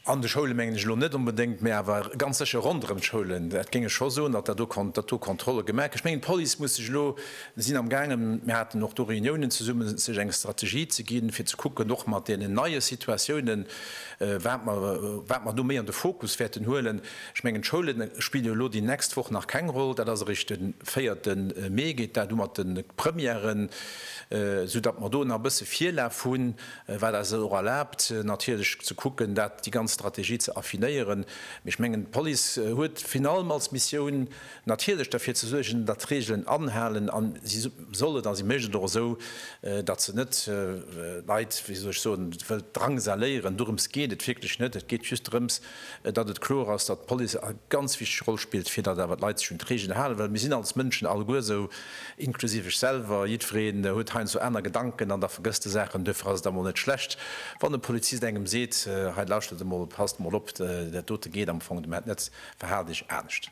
An de Schoule mengen ech elo net onbedéngt, mä awer ganz sécher ronderëm d'Schoulen. Dat géing ech scho soen, datt do Kontrolle gemaach ginn. Ech mengen d'Police muss sech elo, si sinn am gaangen, mir haten och do Reuniounen zesummen, sech eng Strategie ze ginn, fir ze kucken, och mat deenen neie Situatiounen, wat mer do méi an de Fokus wäerten huelen. Ech mengen, d'Schoule spille jo elo déi nächst Woch nach keng Roll. Dat ass erëscht de véierte Mee geet dat u mat de Premièren, soudatt mer do nach e bësse Virlaf hunn, wat eis et och erlaabt natierlech ze kucken, dat, déi ganz Strategie ze affinéieren. Mee ech mengen, d'Police huet virun allem als Missioun natierlech derfir ze suergen, datt d'Reegelen anhalen a si soll et a si mécht et och esou, datt se net d'Leit, wéi soll ech soen, wëllt drangsaléieren. Dorëms geet et wierklech net. Et geet just drëms, datt et kloer ass, datt d'Police eng ganz wichteg Roll spillt, fir datt awer d'Leit sech un d'Reegelen halen, well mir sinn als Mënschen alleguer esou, inklusiv ech selwer, jiddweree huet heiansdo aner Gedanken an da vergësst e Saachen. Duerfir ass et emol net schlecht, wann e Polizist engem seet, hei lauschtert emol, passt emol op, dat dote geet am Fong domat net, verhaalt iech anescht.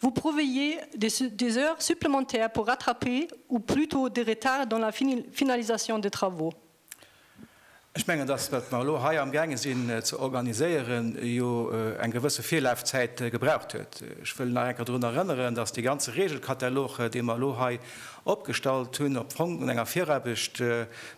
Vous prévoyez des heures supplémentaires pour rattraper ou plutôt des retards dans la finalisation des travaux? Ech mengen, dass, wat mer elo hei amgaange sinn ze organiséieren, jo eng gewësse Virlafzäit gebraucht huet. Ech wëll nach eng Kéier dorun erënneren, dass dee ganze Regelkatalog, dee mer elo hei opgestallt hunn, op Fong un enger Viraarbecht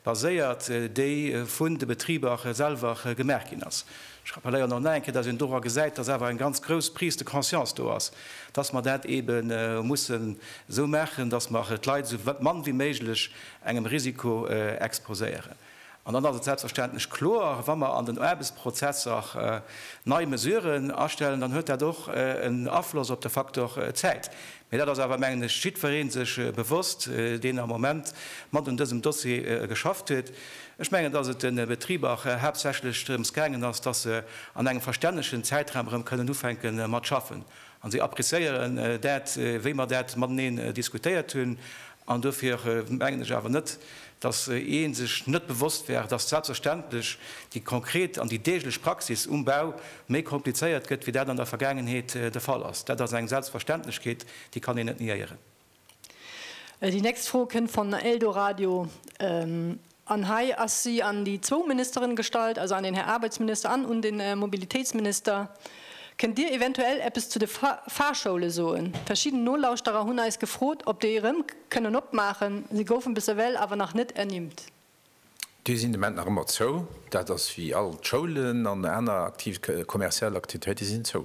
baséiert, déi vun de Betriber selwer gemaach ginn ass. Ech rappelléieren nach eng Kéier, dass een dora gesäit, dass awer eng ganz grouss Prise de conscience do ass, dass mer dat eebe mussen esou maachen, dass mer d'Leit esou mann wéi méiglech engem Risiko exposéieren. An dann ass et selbstverständlech kloer, wa mer an den Aarbechtsprozesser nei Mesuren astellen, dann huet dat och en Afloss op de Faktor Zäit, Mee dat ass awer, mengen ech, jiddweree sech bewosst, deen am Moment mat un dësem Dossier geschafft huet. Ech mengen, dass et de Betriber haaptsächlech drëms gaangen ass, dass se an engem verstännegen Zäitraum erëm kënnen ufänke mat schaffen. A si appréciéieren dat, wéi mer dat mateneen diskutéiert hunn, An dofir mengen ech awer net, dass ee sech net bewosst wär, dass selbstverständlech déi konkret an déi deeglech Praxis um Bau méi komplizéiert gëtt, wéi dat an der Vergaangenheet de Fall ass. Dat ass eng Selbstverständlechkeet, déi kann een net niéieren. Déi nächst Fro kënnt von Eldoradio. An hei ass si an déi zwou Ministeren gestallt, also an den Här Aarbechtsminister an un den Mobilitéitsminister. Kënnt Dir eventuell eppes zu de Fahrschoule soen? Verschidden Nolauschterer hunn eis gefrot, ob déi erëm kënnen opmaachen. Se goufen bis ewell awer nach net ernimmt. Déi sinn de Moment nach ëmmer zou. Dat ass wéi all d'Schoulen an aner aktiv kommerziell Aktivitéite sinn zou.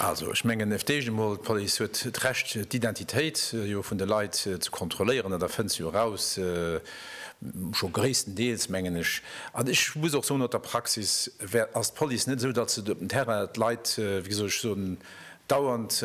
Also, ech mengen fir d'éischt emol, d'Police huet d'Recht d'Identitéit jo vun de Leit ze kontrolléieren, dat erfënnt se jo eraus, scho gréisstendeels, mengen ech. An ech muss och soen, no der Praxis ass d'Police net esou, datt se op dem Terrain d'Leit, wéi soll ech soen, dauernd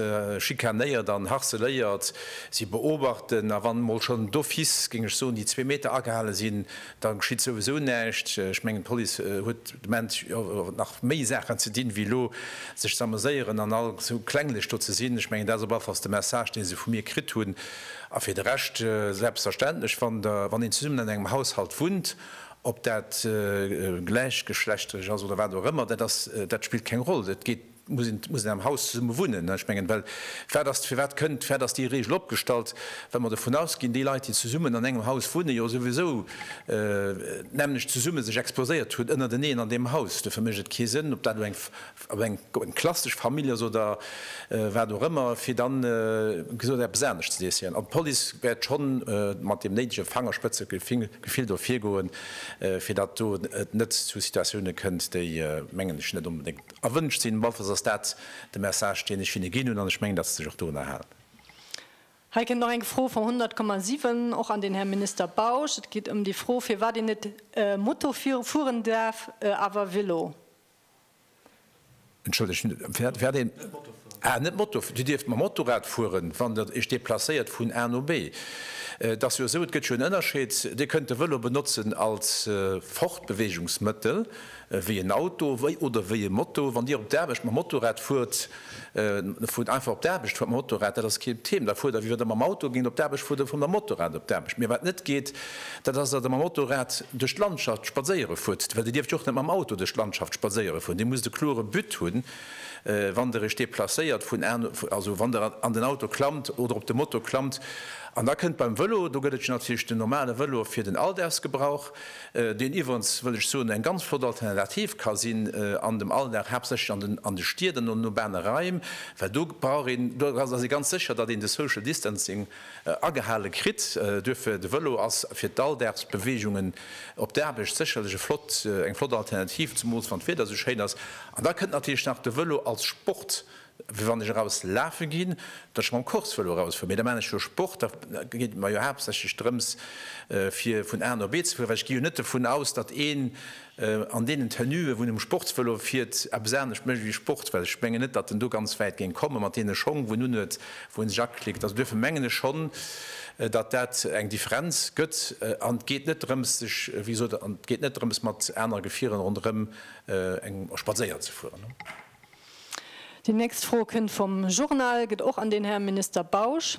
schikanéiert an harceléiert. Si beobachten a wann emol schonn d'office, géing ech soen, déi zwee Meter agehale sinn, Da geschitt souwisou näischt. Ech mengen, d'Police huet de Moment jo och nach méi Saachen ze dinn, wéi elo sech ze ameséieren an all esou klenglech do ze sinn. Ech mengen, dat ass op alle Falls de Message, dee se vu mir kritt hunn. A fir de Rescht, selbstverständlech, wann der, wann een zesummen an engem Haushalt wunnt, ob dat gläichgeschlechterlech ass oder wat och ëmmer, dat ass, dat spillt keng Roll. Et geet Et muss een am Haus zesumme wunnen. Ech mengen, well wat ass, firwat kënnt, firwat ass déi Regel opgestallt, well mer dovun ausginn, déi Leit, déi zesummen an engem Haus wunnen, jo souwisou d'nämmlecht zesumme sech exposéiert hunn ënnerteneen an deem Haus. Dofir mécht et kee Sënn, ob dat elo eng klassesch Famill ass oder wat och ëmmer, fir da gesot eppes anescht ze decidéieren. An d'Police wäert scho mat deem néidege Fangerspëtzegefill do virgoen, fir datt do et net zu Situatioune kënnt, déi, mengen ech, net onbedéngt Erwënscht sinn. Bon, allenfalls ass dat de Message, deen ech hinne ginn hunn, an ech mengen, datt se sech och dorunner halen. Hei kënnt nach eng Fro vum 100,7, och an den Här Minister Bausch. Et geet ëm déi Fro, firwat een net Moto fueren däerf, awer Vélo. Entschëllegt, firwat een net Moto fueren däerf? Ah, net Moto. Dir dierft mam Motorrad fueren, wann Der Iech deplacéiert vun A no B. Et ass jo esou, et gëtt jo en Ënnerscheed, Dir kënnt de Vélo benotzen als Fortbewegungsmëttel, wéi en Auto oder wéi e Moto. Wann Dir op d'Aarbecht mam Motorrad fuert, da fuert einfach op d'Aarbecht, fuert mam Motorrad, dat ass kee Thema. Da fuert Der, wéi wa Der mam Auto géingt op d'Aarbecht fueren, fuert Der mam Motorrad op d'Aarbecht. Mee wat net geet, dat ass, datt Der mam Motorrad duerch d'Landschaft spadséiere fuert, well Dir dierft jo och net mam Auto duerch d'Landschaft spadséiere fueren. Dir musst e klore But hunn, wann Der Iech deplacéiert, vun, also wann Der an den Auto klammt oder op de Moto klammt. An da kënnt beim Vëlo, do gëtt et jo natierlech den normale Vëlo fir den Alldagsgebrauch, deen iwwerens, wëll ech soen, eng ganz flott Alternativ ka sinn an dem Alldag, haaptsächlech an de Stied an an urbane Raim, well do brauch een, do ass ee ganz sécher, datt een de Social Distancing agehale kritt. Duerfir, de Vëlo ass fir d'Alldagsbeweegungen op d'Aarbecht sécherlech e flott, eng flott Alternativ, zemools wann d'Wieder esou schéin ass. An da kënnt natierlech nach de Vëlo als Sport Wéi wann ech eraus lafe ginn, datt ech mam Course-Vëlo erausfueren. Mee da maachen ech jo Sport. Da geet et mer jo haaptsächlech drëms, fir vun A no B ze fueren. Well ech gi jo net dovun aus, datt een an deenen Tenue wou en um Sportsvëlo fiert, eppes anescht mécht ewéi Sport. Well ech mengen net, datt en do ganz wäit géing kommen, mat deene Schong wou en unhuet, wou en sech aklickt. Also duerfir mengen ech schonn, datt dat eng Differenz gëtt. An et geet net drëms, sech, wéi gesot, et geet net drëms mat anere Gefierer ronderëm eng Spadséier ze fueren. Déi nächst Fro kënnt vum Journal, geet och an den Här Minister Bausch,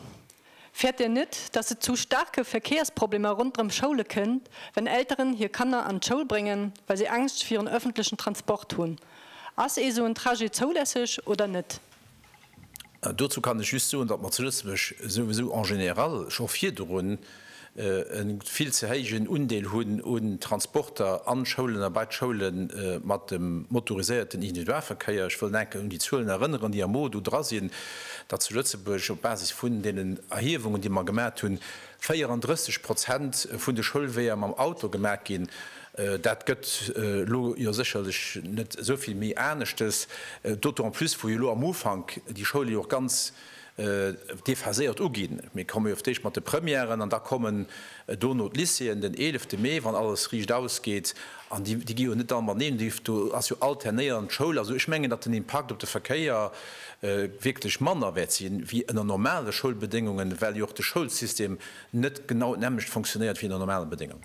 Fäert Dir net, dass et zu staarke Verkéiersproblemer ronderëm d'Schoule kënnt, wenn Elteren hir Kanner an d'Schoul bréngen, well si Angscht virun ëffentlechen Transport hunn? Ass ee sou en Trajet zoulässeg oder net? Dozou kann ech just soen, datt mer zu Lëtzebuerg souwisou en général scho virdrun e vill ze héijen Undeel hunn un Transporter an d'Schoulen a bei d'Schoule mat dem motoriséierten Individualverkéier. Ech wëll enke un déi Zuelen erënneren, déi amo do dra sinn, datt zu Lëtzebuerg op Basis vun deenen Erhiewungen, déi mer gemat hunn, 34 Prozent vun de Schoulweeër mam Auto gemat ginn. Dat gëtt elo jo sécherlech net esou vill méi aneschtes, d'autant en plus wou jo elo am Ufank déi Schoule jo och ganz déphaséiert uginn. Mir komme jo fir d'éischt mat de Premièren an da kommen dono d'Lycéeën den eelefte Mee, wann alles riicht ausgeet. An déi gi jo net all mateneen, déi do ass jo alternéierend d'Schoul. Also ech mengen, datt den Impakt op de Verkéier wierklech manner wäert si wéi ënner normale Schoulbedéngungen, well jo och de Schoulsystem net genau d'nämmlecht fonctionéiert wéi ënner normale Bedéngungen.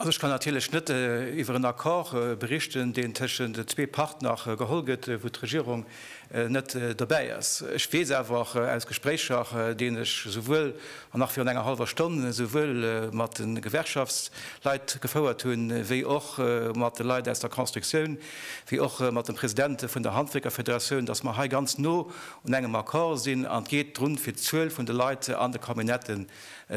Also ech kann natierlech net iwwer en Accord berichten, deen tëschent zwee Partner geholl gëtt, wou d'Regierung net dobäi ass. Ech weess awer aus Gespréicher, deen ech souwuel, an nach virun enger hallwer Stonn, souwuel mat de Gewerkschaftsleit gefouert hunn, wéi och mat de Leit aus der Constructioun, wéi och mat dem President vun der Handwierkerfederatioun, datt mer hei ganz no un engem Accord sinn. An et geet drun, fir d'Zuel vun de Leit an de Camionnettë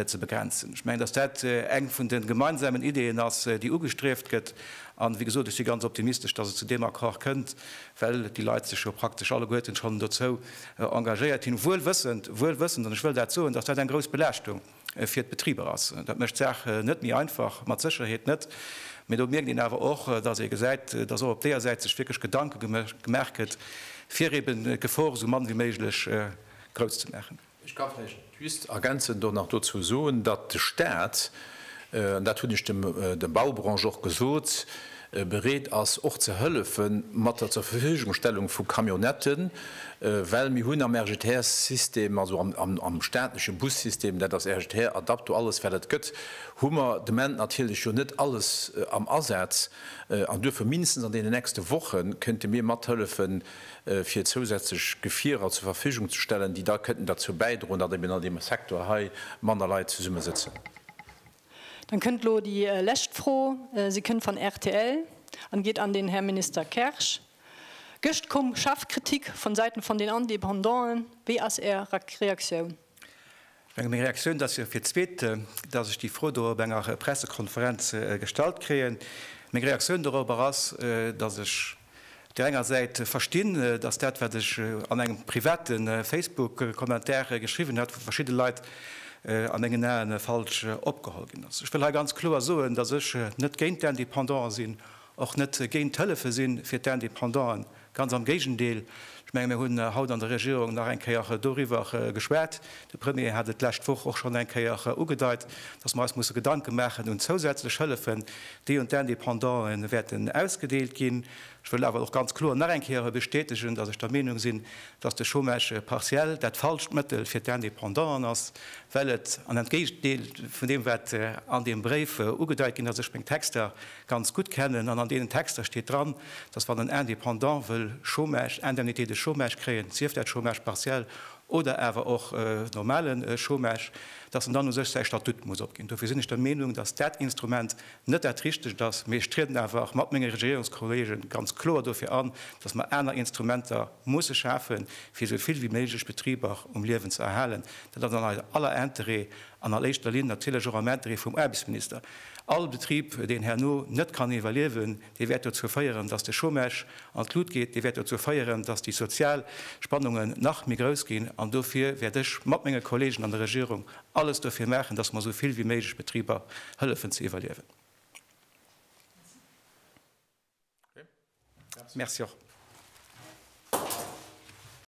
ze begrenzen. Ech mengen, dass dat eng vun de gemeinsamen Ideeën ass, déi ugestrieft gëtt. An, wéi gesot, ech si ganz optimistesch, dass et zu deem Accord kënnt, well déi Leit sech jo praktesch alleguerten schonn dozou engagéiert hunn, wuel wëssend, wuel wëssend, an ech wëll dat soen, dass dat eng grouss Belaaschtung fir d'Betriber ass. Dat mécht d'Saach net méi einfach, mat Sécherheet net. Mee do mierkt een awer och, dass ee gesäit, dass och op deeër Säit sech wierklech Gedanke gemaach gëtt, fir eeben d'Gefor esou mann wéi méiglech grouss ze maachen. Ech ka vläicht just ergänzend do nach dozou soen, datt de Staat, an dat hunn ech dem der Baubranche och gesot, bereet ass och ze hëllefe mat der Zurverfügungstellung vu Camionnetten, well mir hunn am RGTR-System, also am staatleche Bussystem, dat ass RGTR, Adapto, alles wat et gëtt, hu mer de Moment natierlech jo net alles am Asaz. An duerfir mindestens an deenen nächste Woche kéinte mir mathëllefen, fir zousätzlech Gefierer zur Verfügung ze stellen, déi da kënnten derzou bäidroen, datt eben an deem Secteur hei manner Leit zesumme sëtzen. Dann kënnt elo déi lescht Fro. Se kënnt van rtl an geet an den Här Minister Kersch. Gëscht koum scharf Kritik van Säiten van den Indépendanten. Wéi ass Är Reaktioun? Meng Reaktioun, et ass jo fir d'zweet, datt ech déi Fro do op enger Pressekonferenz gestallt kréien, meng Reaktioun dorobber ass, datt ech op där enger Säit verstinn, datt dat, wat ech an engem private Facebook-Kommentar geschriwwen hat, vu verschidde Leit a mengen Ae falsch opgeholl ginn ass. Ech wëll hei ganz kloer soen, datt ech net géint d'Indépendant sinn, och net géint d'Hëllefe si fir d'Independanten, ganz am Géigendeel. Ech menge mir hunn haut an der Regierung nach eng Kéier doriwwer geschwat. De Premier hat et d'lescht Woch och schonn eng Kéier ugedeit, datt mer eis musse Gedanke maachen un zousätzlech Hëllefen, déi un d'Independantë wäerten ausgedeelt ginn. Ech wëll awer och ganz kloer nach eng Kéier bestätegen, datt ech der Meenung sinn, datt de Chômage partiel dat falscht Mëttel fir d'Independanten ass, well et, an entgéintdeelt vun deem wat an deem Bréif ugedeit ginn ass, ech meng Texter, ganz gutt kennen an an deenen Texter steet dran, dass wann en Indépendant wëll Chômage, Indemnité de chômage kréien, sief dat Chômage partiel oder awer och normale Chômage, dass en dann u sech säi Statut muss opginn. Dofir sinn ech der Meenung, dass dat Instrument net dat Richtegt ass, mee ech trieden awer mat menge Regierungskollege ganz kloer dofir an, dass mer aner Instrumenter musse schafen, fir esou vill wéi méiglech Betriber um Liewen ze erhalen. Dat ass an eise aller Interêt an a éischter Linn natierlech och am Interêt vum Aarbechtsminister. All Betrib, deen herno net kann iwwerliewen, dee wäert dozou féieren, datt de Chômage an d'Lut geet, dee wäert dozou féieren, datt déi sozial Spannungen nach méi grouss ginn. An dofir wäert ech mat menge Kollegen an der Regierung alles dofir maachen, datt mer esou vill wéi méiglech Betriber hëllefen ze iwwerliewen. Merci.